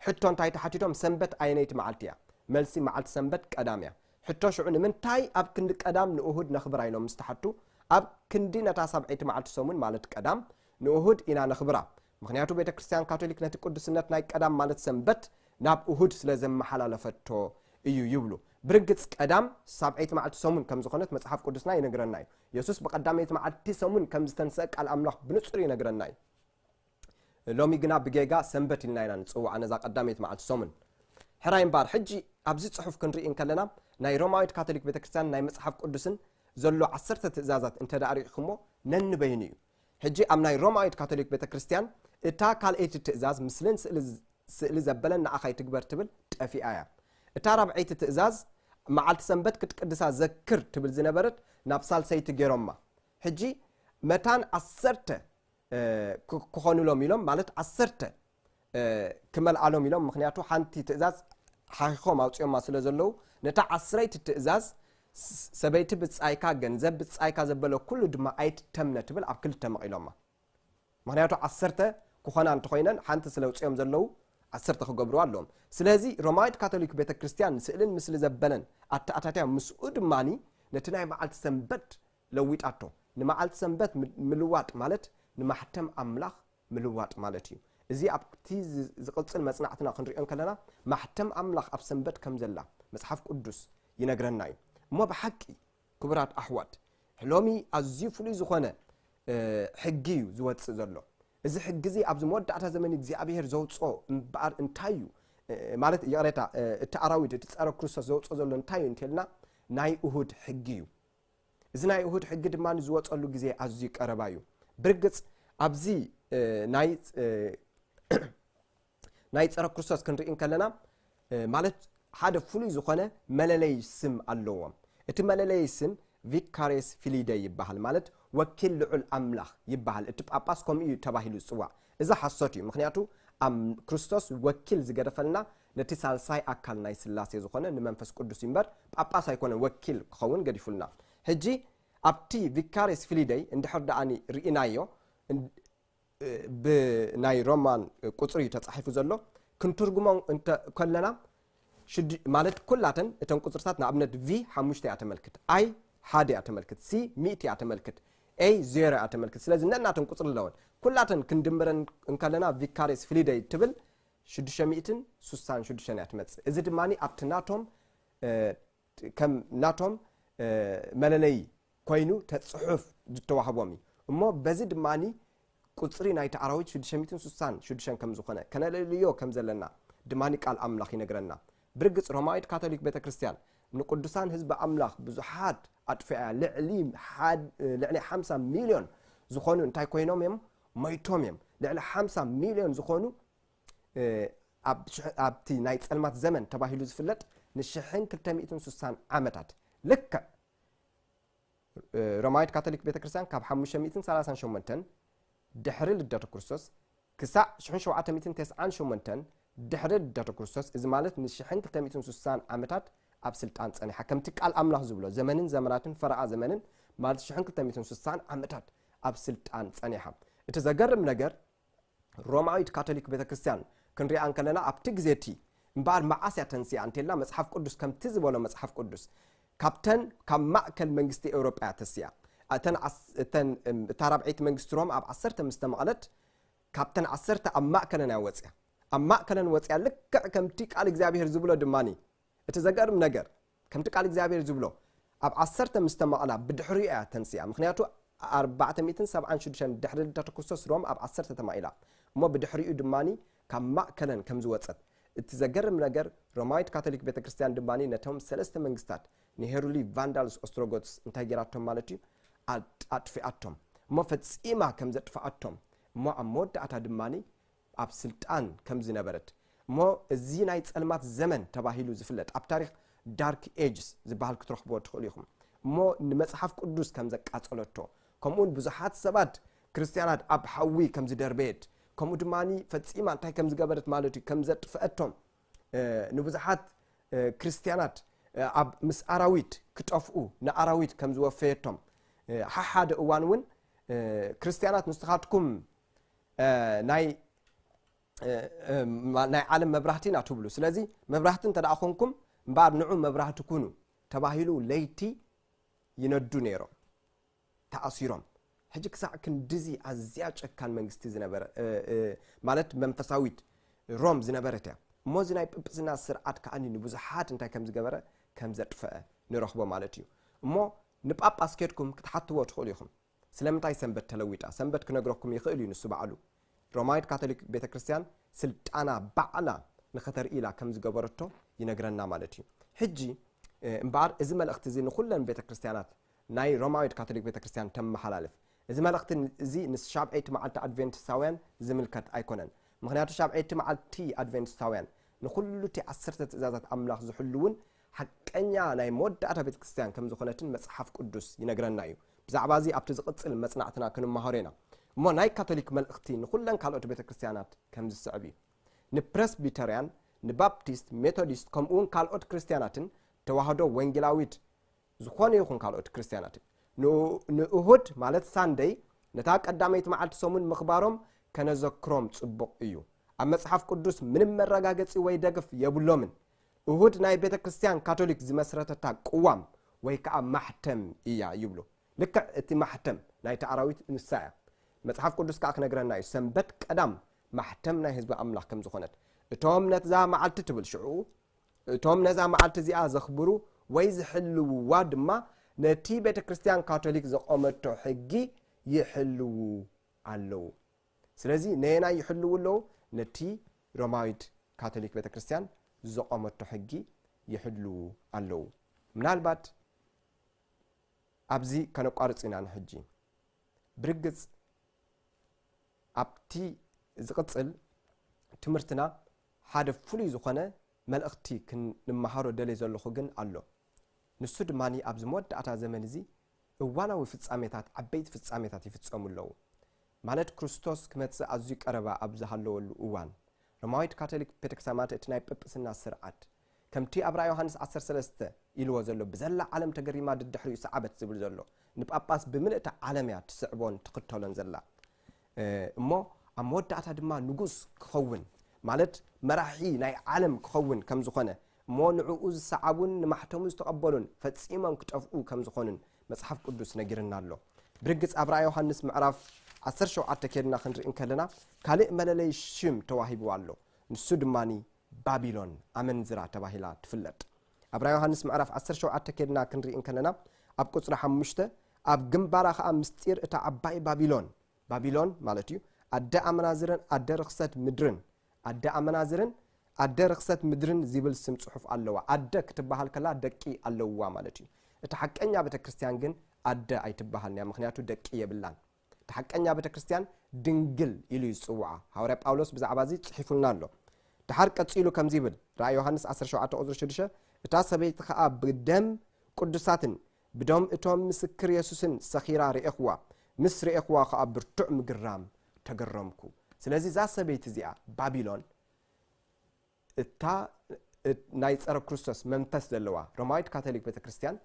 ሕቶ እንታይ ተሓቲቶም ሰንበት ኣየነይቲ መዓልቲ እያ? መልሲ መዓልቲ ሰንበት ቀዳም እያ። ሕቶ ሽዑ ንምንታይ ኣብ ክንዲ ቀዳም ንእሁድ ነኽብራ ኢሎም ምስ ተሓቱ ኣብ ክንዲ ነታ ሳብዐይቲ መዓልቲ ሰሙን ማለት ቀዳም ንእሁድ ኢና ነኽብራ ምኽንያቱ ቤተ ክርስትያን ካቶሊክ ነቲ ቅዱስነት ናይ ቀዳም ማለት ሰንበት ናብ እሁድ ስለ ዘመሓላለፈቶ እዩ ይብሉ። ብርግጽ ቀዳም ሳብዐይቲ መዓልቲ ሰሙን ከም ዝኾነት መጽሓፍ ቅዱስና ይነግረና እዩ። የሱስ ብቐዳመይቲ መዓልቲ ሰሙን ከም ዝተንስአ ቃል ኣምላኽ ብንጹር ይነግረና እዩ። ሎሚ ግና ብጌጋ ሰንበት ኢልና ኢና ንጽውዓ ነዛ ቀዳመይቲ መዓልቲ ሰሙን። ሕራይ እምበኣር፣ ሕጂ ኣብዚ ጽሑፍ ክንርኢ እንከለና፣ ናይ ሮማዊት ካቶሊክ ቤተ ክርስቲያንን ናይ መጽሓፍ ቅዱስን ዘሎ ዓሰርተ ትእዛዛት እንተ ደኣ ርኢኹሞ ነንበይኑ እዩ። ሕጂ ኣብ ናይ ሮማዊት ካቶሊክ ቤተ ክርስቲያን እታ ካልኣይቲ ትእዛዝ ምስልን ስእሊ ዘበለን ንኣኻ ይትግበር ትብል ጠፊኣ እያ። እታ ራብዐይቲ ትእዛዝ መዓልቲ ሰንበት ክትቅድሳ ዘክር ትብል ዝነበረት ናብ ሳልሰይቲ ገይሮማ። ሕጂ መታን ዓሰርተ ክኾኑሎም ኢሎም ማለት ዓሰርተ ክመልኣሎም ኢሎም ምክንያቱ ሓንቲ ትእዛዝ ሓኺኾም ኣውፅኦማ ስለ ዘለዉ ነታ ዓስረይቲ ትእዛዝ ሰበይቲ ብፃይካ ገንዘብ ብፃይካ ዘበለ ኩሉ ድማ ኣይትተምነ ትብል ኣብ ክልተ መቒሎማ ምክንያቱ ዓሰርተ ክኾና እንተኮይነን ሓንቲ ስለ ውፅኦም ዘለዉ ዓሰርተ ክገብርዋ ኣለዎም ስለዚ ሮማዊት ካቶሊክ ቤተ ክርስትያን ስእልን ምስሊ ዘበለን ኣተኣታትያ ምስኡ ድማኒ ነቲ ናይ መዓልቲ ሰንበት ለዊጣቶ። ንመዓልቲ ሰንበት ምልዋጥ ማለት ንማሕተም ኣምላኽ ምልዋጥ ማለት ኢዩ። እዚ ኣብቲ ዝቕጽል መጽናዕትና ክንርእዮ እንከለና ማሕተም ኣምላኽ ኣብ ሰንበት ከም ዘላ መጽሓፍ ቅዱስ ይነግረና ኢዩ። እሞ ብሓቂ ክቡራት ኣሕዋት ሎሚ ኣዝዩ ፍሉይ ዝኾነ ሕጊ ኢዩ ዝወጽእ ዘሎ። እዚ ሕጊ እዚ ኣብዚ መወዳእታ ዘመን እግዚኣብሄር ዘውጽኦ እምበኣር እንታይ ኢዩ ማለት ይቕሬታ እቲ ኣራዊት እቲ ጸረ ክርስቶስ ዘውጽኦ ዘሎ እንታይ ኢዩ እንተልና ናይ እሁድ ሕጊ ኢዩ። እዚ ናይ እሁድ ሕጊ ድማ ዝወፀሉ ግዜ ኣዝዩ ቀረባ እዩ ብርግፅ ኣብዚ ናይ ናይ ፀረ ክርስቶስ ክንርኢ እንከለና ማለት ሓደ ፍሉይ ዝኾነ መለለይ ስም ኣለዎም እቲ መለለይ ስም ቪካሬስ ፊሊደ ይበሃል ማለት ወኪል ልዑል ኣምላኽ ይበሃል እቲ ጳጳስ ከምኡ እዩ ተባሂሉ ዝፅዋዕ እዚ ሓሶት እዩ ምክንያቱ ክርስቶስ ወኪል ዝገደፈልና ነቲ ሳልሳይ ኣካል ናይ ሥላሴ ዝኾነ ንመንፈስ ቅዱስ እዩ እምበር ጳጳስ ኣይኮነን ወኪል ክኸውን ገዲፉልና። ሕጂ ኣብቲ ቪካሬስ ፊሊደይ እንድሕር ደኣኒ ርኢናዮ ብ ናይ ሮማን ቁጽሪ እዩ ተጻሒፉ ዘሎ ክንትርጉሞ እንተ ከለና ሽዱ ማለት ኩላተን እተን ቁጽርታት ንኣብነት V ሓሙሽተ እያ ተመልክት I ሓደ እያ ተመልክት C ሚእቲ እያ ተመልክት A ዜሮ እያ ተመልክት ስለዚ ነናተን ቁጽሪ ኣለወን ኩላተን ክንድምረን እንከለና ቪካሬስ ፊሊደይ እትብል ሽዱሽተ ሚእትን ሱሳን ሽዱሽተን እያ ትመጽእ እዚ ድማ ኣብቲ ናቶም ከም ናቶም መለለይ ኮይኑ ተፅሑፍ ዝተዋህቦም እዩ እሞ በዚ ድማ ቁፅሪ ናይቲ ኣራዊት ሽዱሽተ ሚእትን ሱሳን ሽዱሽተን ከም ዝኾነ ከነለልዮ ከም ዘለና ድማ ቃል ኣምላኽ ይነግረና ብርግፅ ሮማዊት ካቶሊክ ቤተ ክርስቲያን ንቅዱሳን ህዝቢ ኣምላኽ ብዙሓት ኣጥፊኣያ ልዕሊ ልዕሊ ሓምሳ ሚልዮን ዝኾኑ እንታይ ኮይኖም እዮም ሞይቶም እዮም ልዕሊ ሓምሳ ሚልዮን ዝኾኑ ኣብቲ ናይ ፀልማት ዘመን ተባሂሉ ዝፍለጥ ንሽሕን ክልተ ሚእትን ስሳን ዓመታት ልክዕ ሮማዊት ካቶሊክ ቤተ ክርስቲያን ካብ ሓሙሽተ ሚእትን ሰላሳን ሸሞንተን ድሕሪ ልደተ ክርስቶስ ክሳዕ ሽሕን ሸውዓተ ሚእትን ተስዓን ሸሞንተን ድሕሪ ልደተ ክርስቶስ እዚ ማለት ንሽሕን ክልተ ሚእትን ስሳን ዓመታት ኣብ ስልጣን ጸኒሓ ከምቲ ቃል ኣምላኽ ዝብሎ ዘመንን ዘመናትን ፈረቓ ዘመንን ማለት ሽሕን ክልተ ሚእትን ስሳን ዓመታት ኣብ ስልጣን ጸኒሓ። እቲ ዘገርም ነገር ሮማዊት ካቶሊክ ቤተክርስትያን ክንሪኣ እንከለና ኣብቲ ግዜ እቲ እምበኣር መዓስ እያ ተንሲኣ እንተልና መጽሓፍ ቅዱስ ከምቲ ዝበሎ መጽሓፍ ቅዱስ ካብተን ካብ ማእከል መንግስቲ ኤውሮጳ እያ ተሲኣ እተን እተን እታ ራብዐይቲ መንግስቲ ሮማ ኣብ ዓሰርተ ምስ ተመቕለት ካብተን ዓሰርተ ኣብ ማእከለን እያ ወጽያ ኣብ ማእከለን ወጽያ ልክዕ ከምቲ ቃል እግዚኣብሄር ዝብሎ ድማኒ እቲ ዘገርም ነገር ከምቲ ቃል እግዚኣብሔር ዝብሎ ኣብ ዓሰርተ ምስ ተማቕላ ብድሕሪኡ እያ ተንሲኣ ምኽንያቱ ኣርባዕተ ሚእትን ሰብዓን ሽዱሽተን ድሕሪ ልደተ ክርስቶስ ሮም ኣብ ዓሰርተ ተማኢላ እሞ ብድሕሪኡ ድማ ካብ ማእከለን ከም ዝወጸት እቲ ዘገርም ነገር ሮማዊት ካቶሊክ ቤተ ክርስቲያን ድማ ነቶም ሰለስተ መንግስታት ንሄሩሊ ቫንዳልስ ኦስትሮጎትስ እንታይ ጌራቶም ማለት እዩ ኣጥፊኣቶም እሞ ፈጺማ ከም ዘጥፍኣቶም እሞ ኣብ መወዳእታ ድማ ኣብ ስልጣን ከም ዝነበረት እሞ እዚ ናይ ጸልማት ዘመን ተባሂሉ ዝፍለጥ ኣብ ታሪኽ Dark Ages ዝበሃል ክትረኽብዎ ትኽእሉ ኢኹም እሞ ንመጽሓፍ ቅዱስ ከም ዘቃጸለቶ ከምኡውን ብዙሓት ሰባት ክርስትያናት ኣብ ሓዊ ከም ዝደርበየት ከምኡ ድማ ፈጺማ እንታይ ከም ዝገበረት ማለት እዩ ከም ዘጥፍአቶም ንብዙሓት ክርስትያናት ኣብ ምስ ኣራዊት ክጠፍኡ ንኣራዊት ከም ዝወፈየቶም ሓሓደ እዋን እውን ክርስትያናት ንስኻትኩም ናይ ናይ ዓለም መብራህቲ ኢና ትብሉ ስለዚ መብራህቲ እንተ ኮንኩም እምበኣር ንዑ መብራህቲ ኩኑ ተባሂሉ ለይቲ ይነዱ ነይሮም ተኣሲሮም ሕጂ ክሳዕ ክንዲዚ ኣዝያ ጨካን መንግስቲ ዝነበረ ማለት መንፈሳዊት ሮም ዝነበረት እያ እሞ እዚ ናይ ጵጵስና ስርዓት ከዓኒ ንብዙሓት እንታይ ከም ዝገበረ ከም ዘጥፈአ ንረኽቦ ማለት እዩ እሞ ንጳጳስ ኬድኩም ክትሓትዎ ትኽእሉ ኢኹም ስለምንታይ ሰንበት ተለዊጣ? ሰንበት ክነግረኩም ይኽእል እዩ ንሱ ባዕሉ። ሮማዊት ካቶሊክ ቤተ ክርስቲያን ስልጣና ባዕላ ንኸተርኢ ኢላ ከም ዝገበረቶ ይነግረና ማለት እዩ። ሕጂ እምበኣር እዚ መልእኽቲ እዚ ንኹለን ቤተ ክርስቲያናት ናይ ሮማዊት ካቶሊክ ቤተ ክርስቲያን ተመሓላልፍ። እዚ መልእኽቲ እዚ ንሻብዐይቲ መዓልቲ ኣድቬንቲስታውያን ዝምልከት ኣይኮነን። ምኽንያቱ ሻብዐይቲ መዓልቲ ኣድቬንቲስታውያን ንኹሉ እቲ ዓሰርተ ትእዛዛት ኣምላኽ ዝሕልዉን ሓቀኛ ናይ መወዳእታ ቤተ ክርስትያን ከም ዝዀነትን መጽሓፍ ቅዱስ ይነግረና ኢዩ። ብዛዕባ እዚ ኣብቲ ዝቕጽል መጽናዕትና ክንመሃሮ ኢና። እሞ ናይ ካቶሊክ መልእኽቲ ንዅለን ካልኦት ቤተ ክርስትያናት ከም ዝስዕብ ኢዩ። ንፕረስቢተርያን፣ ንባፕቲስት፣ ሜቶዲስት፣ ከምኡውን ካልኦት ክርስትያናትን፣ ተዋህዶ፣ ወንጌላዊት፣ ዝዀነ ይኹን ካልኦት ክርስትያናትን፣ ንእሁድ ማለት ሳንደይ ነታ ቀዳመይቲ መዓልቲ ሰሙን ምኽባሮም ከነዘክሮም ጽቡቕ ኢዩ። ኣብ መጽሓፍ ቅዱስ ምንም መረጋገጺ ወይ ደግፍ የብሎምን። እሁድ ናይ ቤተ ክርስትያን ካቶሊክ ዝመስረተታ ቅዋም ወይ ከኣ ማሕተም እያ ይብሉ። ልክዕ እቲ ማሕተም ናይቲ ኣራዊት ንሳ እያ። መጽሓፍ ቅዱስ ከኣ ክነግረና እዩ ሰንበት ቀዳም ማሕተም ናይ ህዝቢ ኣምላኽ ከም ዝኾነት። እቶም ነትዛ መዓልቲ ትብል ሽዑ እቶም ነዛ መዓልቲ እዚኣ ዘኽብሩ ወይ ዝሕልውዋ ድማ ነቲ ቤተ ክርስትያን ካቶሊክ ዘቆመቶ ሕጊ ይሕልዉ ኣለዉ። ስለዚ ነየናይ ይሕልዉ ኣለዉ? ነቲ ሮማዊት ካቶሊክ ቤተ ክርስቲያን ዘቖመቶ ሕጊ ይሕልዉ ኣለዉ። ምናልባት ኣብዚ ከነቋርጽ ኢና ንሕጂ። ብርግጽ ኣብቲ ዝቕጽል ትምህርትና ሓደ ፍሉይ ዝኾነ መልእኽቲ ክንመሃሮ ደልየ ዘለኹ ግን ኣሎ። ንሱ ድማ ኣብዚ መወዳእታ ዘመን እዚ እዋናዊ ፍጻሜታት ዓበይቲ ፍጻሜታት ይፍጸሙ ኣለዉ፣ ማለት ክርስቶስ ክመጽእ ኣዝዩ ቀረባ ኣብ ዝሃለወሉ እዋን። ሮማዊት ካቶሊክ ቤተክርስቲያን ማለት እቲ ናይ ጵጵስና ስርዓት ከምቲ ኣብ ራእይ ዮሃንስ ዓሰርተ ሰለስተ ኢልዎ ዘሎ ብዘላ ዓለም ተገሪማ ድድሕሪኡ ሰዓበት ዝብል ዘሎ ንጳጳስ ብምልእታ ዓለም እያ ትስዕቦን ትኽተሎን ዘላ እሞ ኣብ መወዳእታ ድማ ንጉስ ክኸውን ማለት መራሒ ናይ ዓለም ክኸውን ከም ዝኾነ እሞ ንዕኡ ዝሰዓቡን ንማሕተሙ ዝተቐበሉን ፈጺሞም ክጠፍኡ ከም ዝኾኑን መጽሓፍ ቅዱስ ነጊርና ኣሎ። ብርግጽ ኣብ ራእይ ዮሃንስ ምዕራፍ ዓሰርተ ሸውዓተ ኬድና ክንርኢ እንከለና ካልእ መለለይ ሽም ተዋሂብዋ ኣሎ። ንሱ ድማ ባቢሎን ኣመንዝራ ተባሂላ ትፍለጥ። ኣብ ራእይ ዮሃንስ ምዕራፍ ዓሰርተ ሸውዓተ ኬድና ክንርኢ እንከለና ኣብ ቁጽሪ ሓሙሽተ ኣብ ግንባራ ከኣ ምስጢር እታ ዓባይ ባቢሎን፣ ባቢሎን ማለት እዩ፣ ኣደ ኣመናዝርን ኣደ ርኽሰት ምድርን ኣደ ኣመናዝርን ኣደ ርኽሰት ምድርን ዚብል ስም ጽሑፍ ኣለዋ። ኣደ ክትበሃል ከላ ደቂ ኣለዉዋ ማለት እዩ። እታ ሓቀኛ ቤተ ክርስትያን ግን ኣደ ኣይትበሃልን እያ፣ ምኽንያቱ ደቂ የብላን። እታ ሓቀኛ ቤተ ክርስትያን ድንግል ኢሉ እዩ ዝጽውዓ። ሃዋርያ ጳውሎስ ብዛዕባ እዚ ጽሒፉልና ኣሎ። ደሓር ቀጺሉ ከምዚ ይብል፣ ራእይ ዮሃንስ ዓሰርተ ሸውዓተ ቁጽሪ ሽዱሽተ፣ እታ ሰበይቲ ኸኣ ብደም ቅዱሳትን ብደም እቶም ምስክር የሱስን ሰኺራ ርኤኽዋ፣ ምስ ርኤኽዋ ኸኣ ብርቱዕ ምግራም ተገረምኩ። ስለዚ እዛ ሰበይቲ እዚኣ ባቢሎን እታ ናይ ጸረ ክርስቶስ መንፈስ ዘለዋ ሮማዊት ካቶሊክ ቤተ ክርስቲያን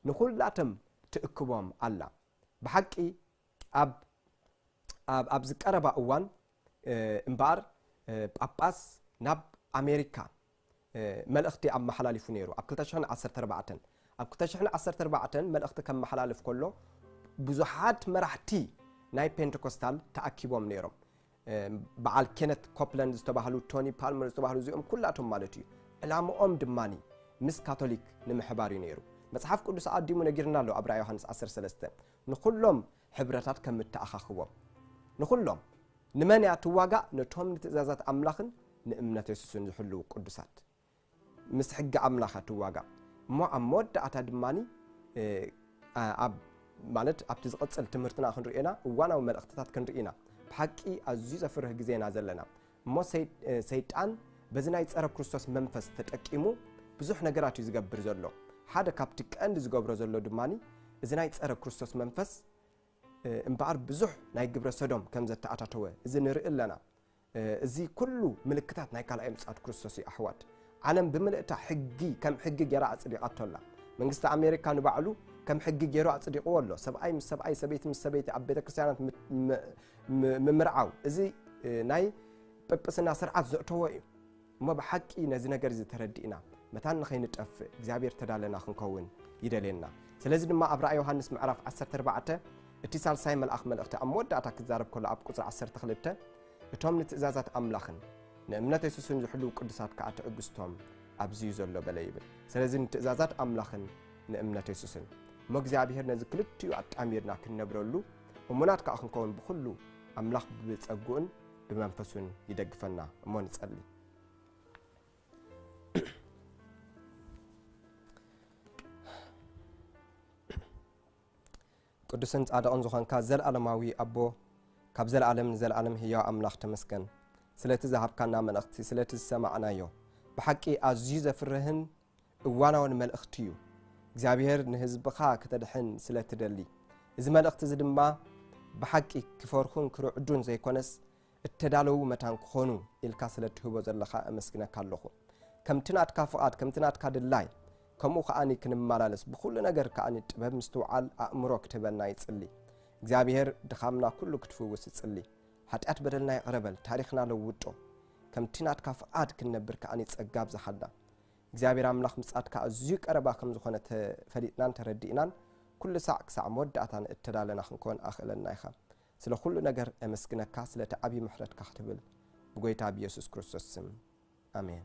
ንኹላቶም ትእክቦም ኣላ። ብሓቂ ኣብ ኣብዚ ቀረባ እዋን እምበኣር ጳጳስ ናብ ኣሜሪካ መልእኽቲ ኣመሓላሊፉ ነይሩ፣ ኣብ ክልተ ሽሕን ዓሰርተ ኣርባዕተን። ኣብ ክልተ ሽሕን ዓሰርተ ኣርባዕተን መልእኽቲ ከመሓላልፍ ከሎ ብዙሓት መራሕቲ ናይ ፔንተኮስታል ተኣኪቦም ነይሮም። በዓል ኬነት ኮፕላንድ ዝተባህሉ፣ ቶኒ ፓልመር ዝተባህሉ እዚኦም ኩላቶም ማለት እዩ። ዕላምኦም ድማ ምስ ካቶሊክ ንምሕባር እዩ ነይሩ። መጽሓፍ ቅዱስ ኣቐዲሙ ነጊርና ኣሎ ኣብ ራእይ ዮሃንስ ዓሰርተ ሰለስተ ንኹሎም ሕብረታት ከም እተኣኻኽቦም፣ ንዅሎም፣ ንመን እያ እትዋጋእ? ነቶም ንትእዛዛት ኣምላኽን ንእምነት የሱስን ዚሕልዉ ቕዱሳት። ምስ ሕጊ ኣምላኽ እያ እትዋጋእ እሞ፣ ኣብ መወዳእታ ድማ ኣብ ማለት ኣብቲ ዝቕጽል ትምህርትና ክንርእዮ ኢና፣ እዋናዊ መልእኽትታት ክንርኢ ኢና። ብሓቂ ኣዝዩ ዘፍርህ ግዜ ኢና ዘለና። እሞ ሰይጣን በዚ ናይ ጸረ ክርስቶስ መንፈስ ተጠቂሙ ብዙሕ ነገራት እዩ ዝገብር ዘሎ። ሓደ ካብቲ ቀንዲ ዝገብሮ ዘሎ ድማ እዚ ናይ ጸረ ክርስቶስ መንፈስ እምበኣር ብዙሕ ናይ ግብረ ሰዶም ከም ዘተኣታተወ እዚ ንርኢ ኣለና። እዚ ኩሉ ምልክታት ናይ ካልኣይ ምጽኣት ክርስቶስ እዩ ኣሕዋት። ዓለም ብምልእታ ሕጊ ከም ሕጊ ጌራ ኣጽዲቓቶ ኣላ። መንግስቲ ኣሜሪካ ንባዕሉ ከም ሕጊ ጌሩ ኣጽዲቕዎ ኣሎ። ሰብኣይ ምስ ሰብኣይ፣ ሰበይቲ ምስ ሰበይቲ ኣብ ቤተ ክርስቲያናት ምምርዓው እዚ ናይ ጵጵስና ስርዓት ዘእተዎ እዩ እሞ ብሓቂ ነዚ ነገር እዚ ተረዲእና መታን ንኸይንጠፍእ እግዚኣብሔር ተዳለና ክንከውን ይደልየና ስለዚ ድማ ኣብ ራእይ ዮሃንስ ምዕራፍ 14 እቲ ሳልሳይ መልኣኽ መልእኽቲ ኣብ መወዳእታ ክዛረብ ከሎ ኣብ ቁፅሪ 12 እቶም ንትእዛዛት ኣምላኽን ንእምነት የሱስን ዝሕልው ቅዱሳት ከዓ ትዕግስቶም ኣብዚዩ ዘሎ በለ ይብል ስለዚ ንትእዛዛት ኣምላኽን ንእምነት የሱስን እሞ እግዚኣብሔር ነዚ ክልቲኡ ኣጣሚርና ክንነብረሉ እሙናት ከኣ ክንከውን ብኹሉ ኣምላኽ ብጸግኡን ብመንፈሱን ይደግፈና እሞ ንጸሊ። ቅዱስን ጻድቕን ዝኾንካ ዘለኣለማዊ ኣቦ ካብ ዘለኣለም ንዘለኣለም ህያው ኣምላኽ ተመስገን ስለቲ ዝሃብካና መልእኽቲ ስለቲ ዝሰማዕናዮ ብሓቂ ኣዝዩ ዘፍርህን እዋናውን መልእኽቲ እዩ እግዚኣብሔር ንህዝብኻ ክተድሕን ስለ እትደሊ እዚ መልእኽቲ እዚ ድማ ብሓቂ ክፈርኹን ክርዕዱን ዘይኮነስ እተዳለዉ መታን ክኾኑ ኢልካ ስለ እትህቦ ዘለኻ እመስግነካ ኣለኹ ከምቲ ናትካ ፍቓድ ከምቲ ናትካ ድላይ ከምኡ ከዓኒ ክንመላለስ ብኩሉ ነገር ከዓኒ ጥበብ ምስትውዓል ኣእምሮ ክትህበና ይጽሊ እግዚኣብሄር ድኻምና ኩሉ ክትፍውስ ይጽሊ ሓጢኣት በደልና ይቕረበል ታሪኽና ለውጦ ከምቲ ናትካ ፍቓድ ክንነብር ከዓኒ ጸጋ ኣብዛሓልና እግዚኣብሔር ኣምላኽ ምጻትካ ኣዝዩ ቀረባ ከም ዝኾነ ተፈሊጥናን ተረዲእናን ኩሉ ሳዕ ክሳዕ መወዳእታ ንእተዳለና ክንኮን ኣኽእለና ኢኻ። ስለ ኩሉ ነገር ኤመስግነካ ስለቲ ዓቢ ምሕረትካ ክትብል ብጎይታ ብየሱስ ክርስቶስ ስም ኣሜን።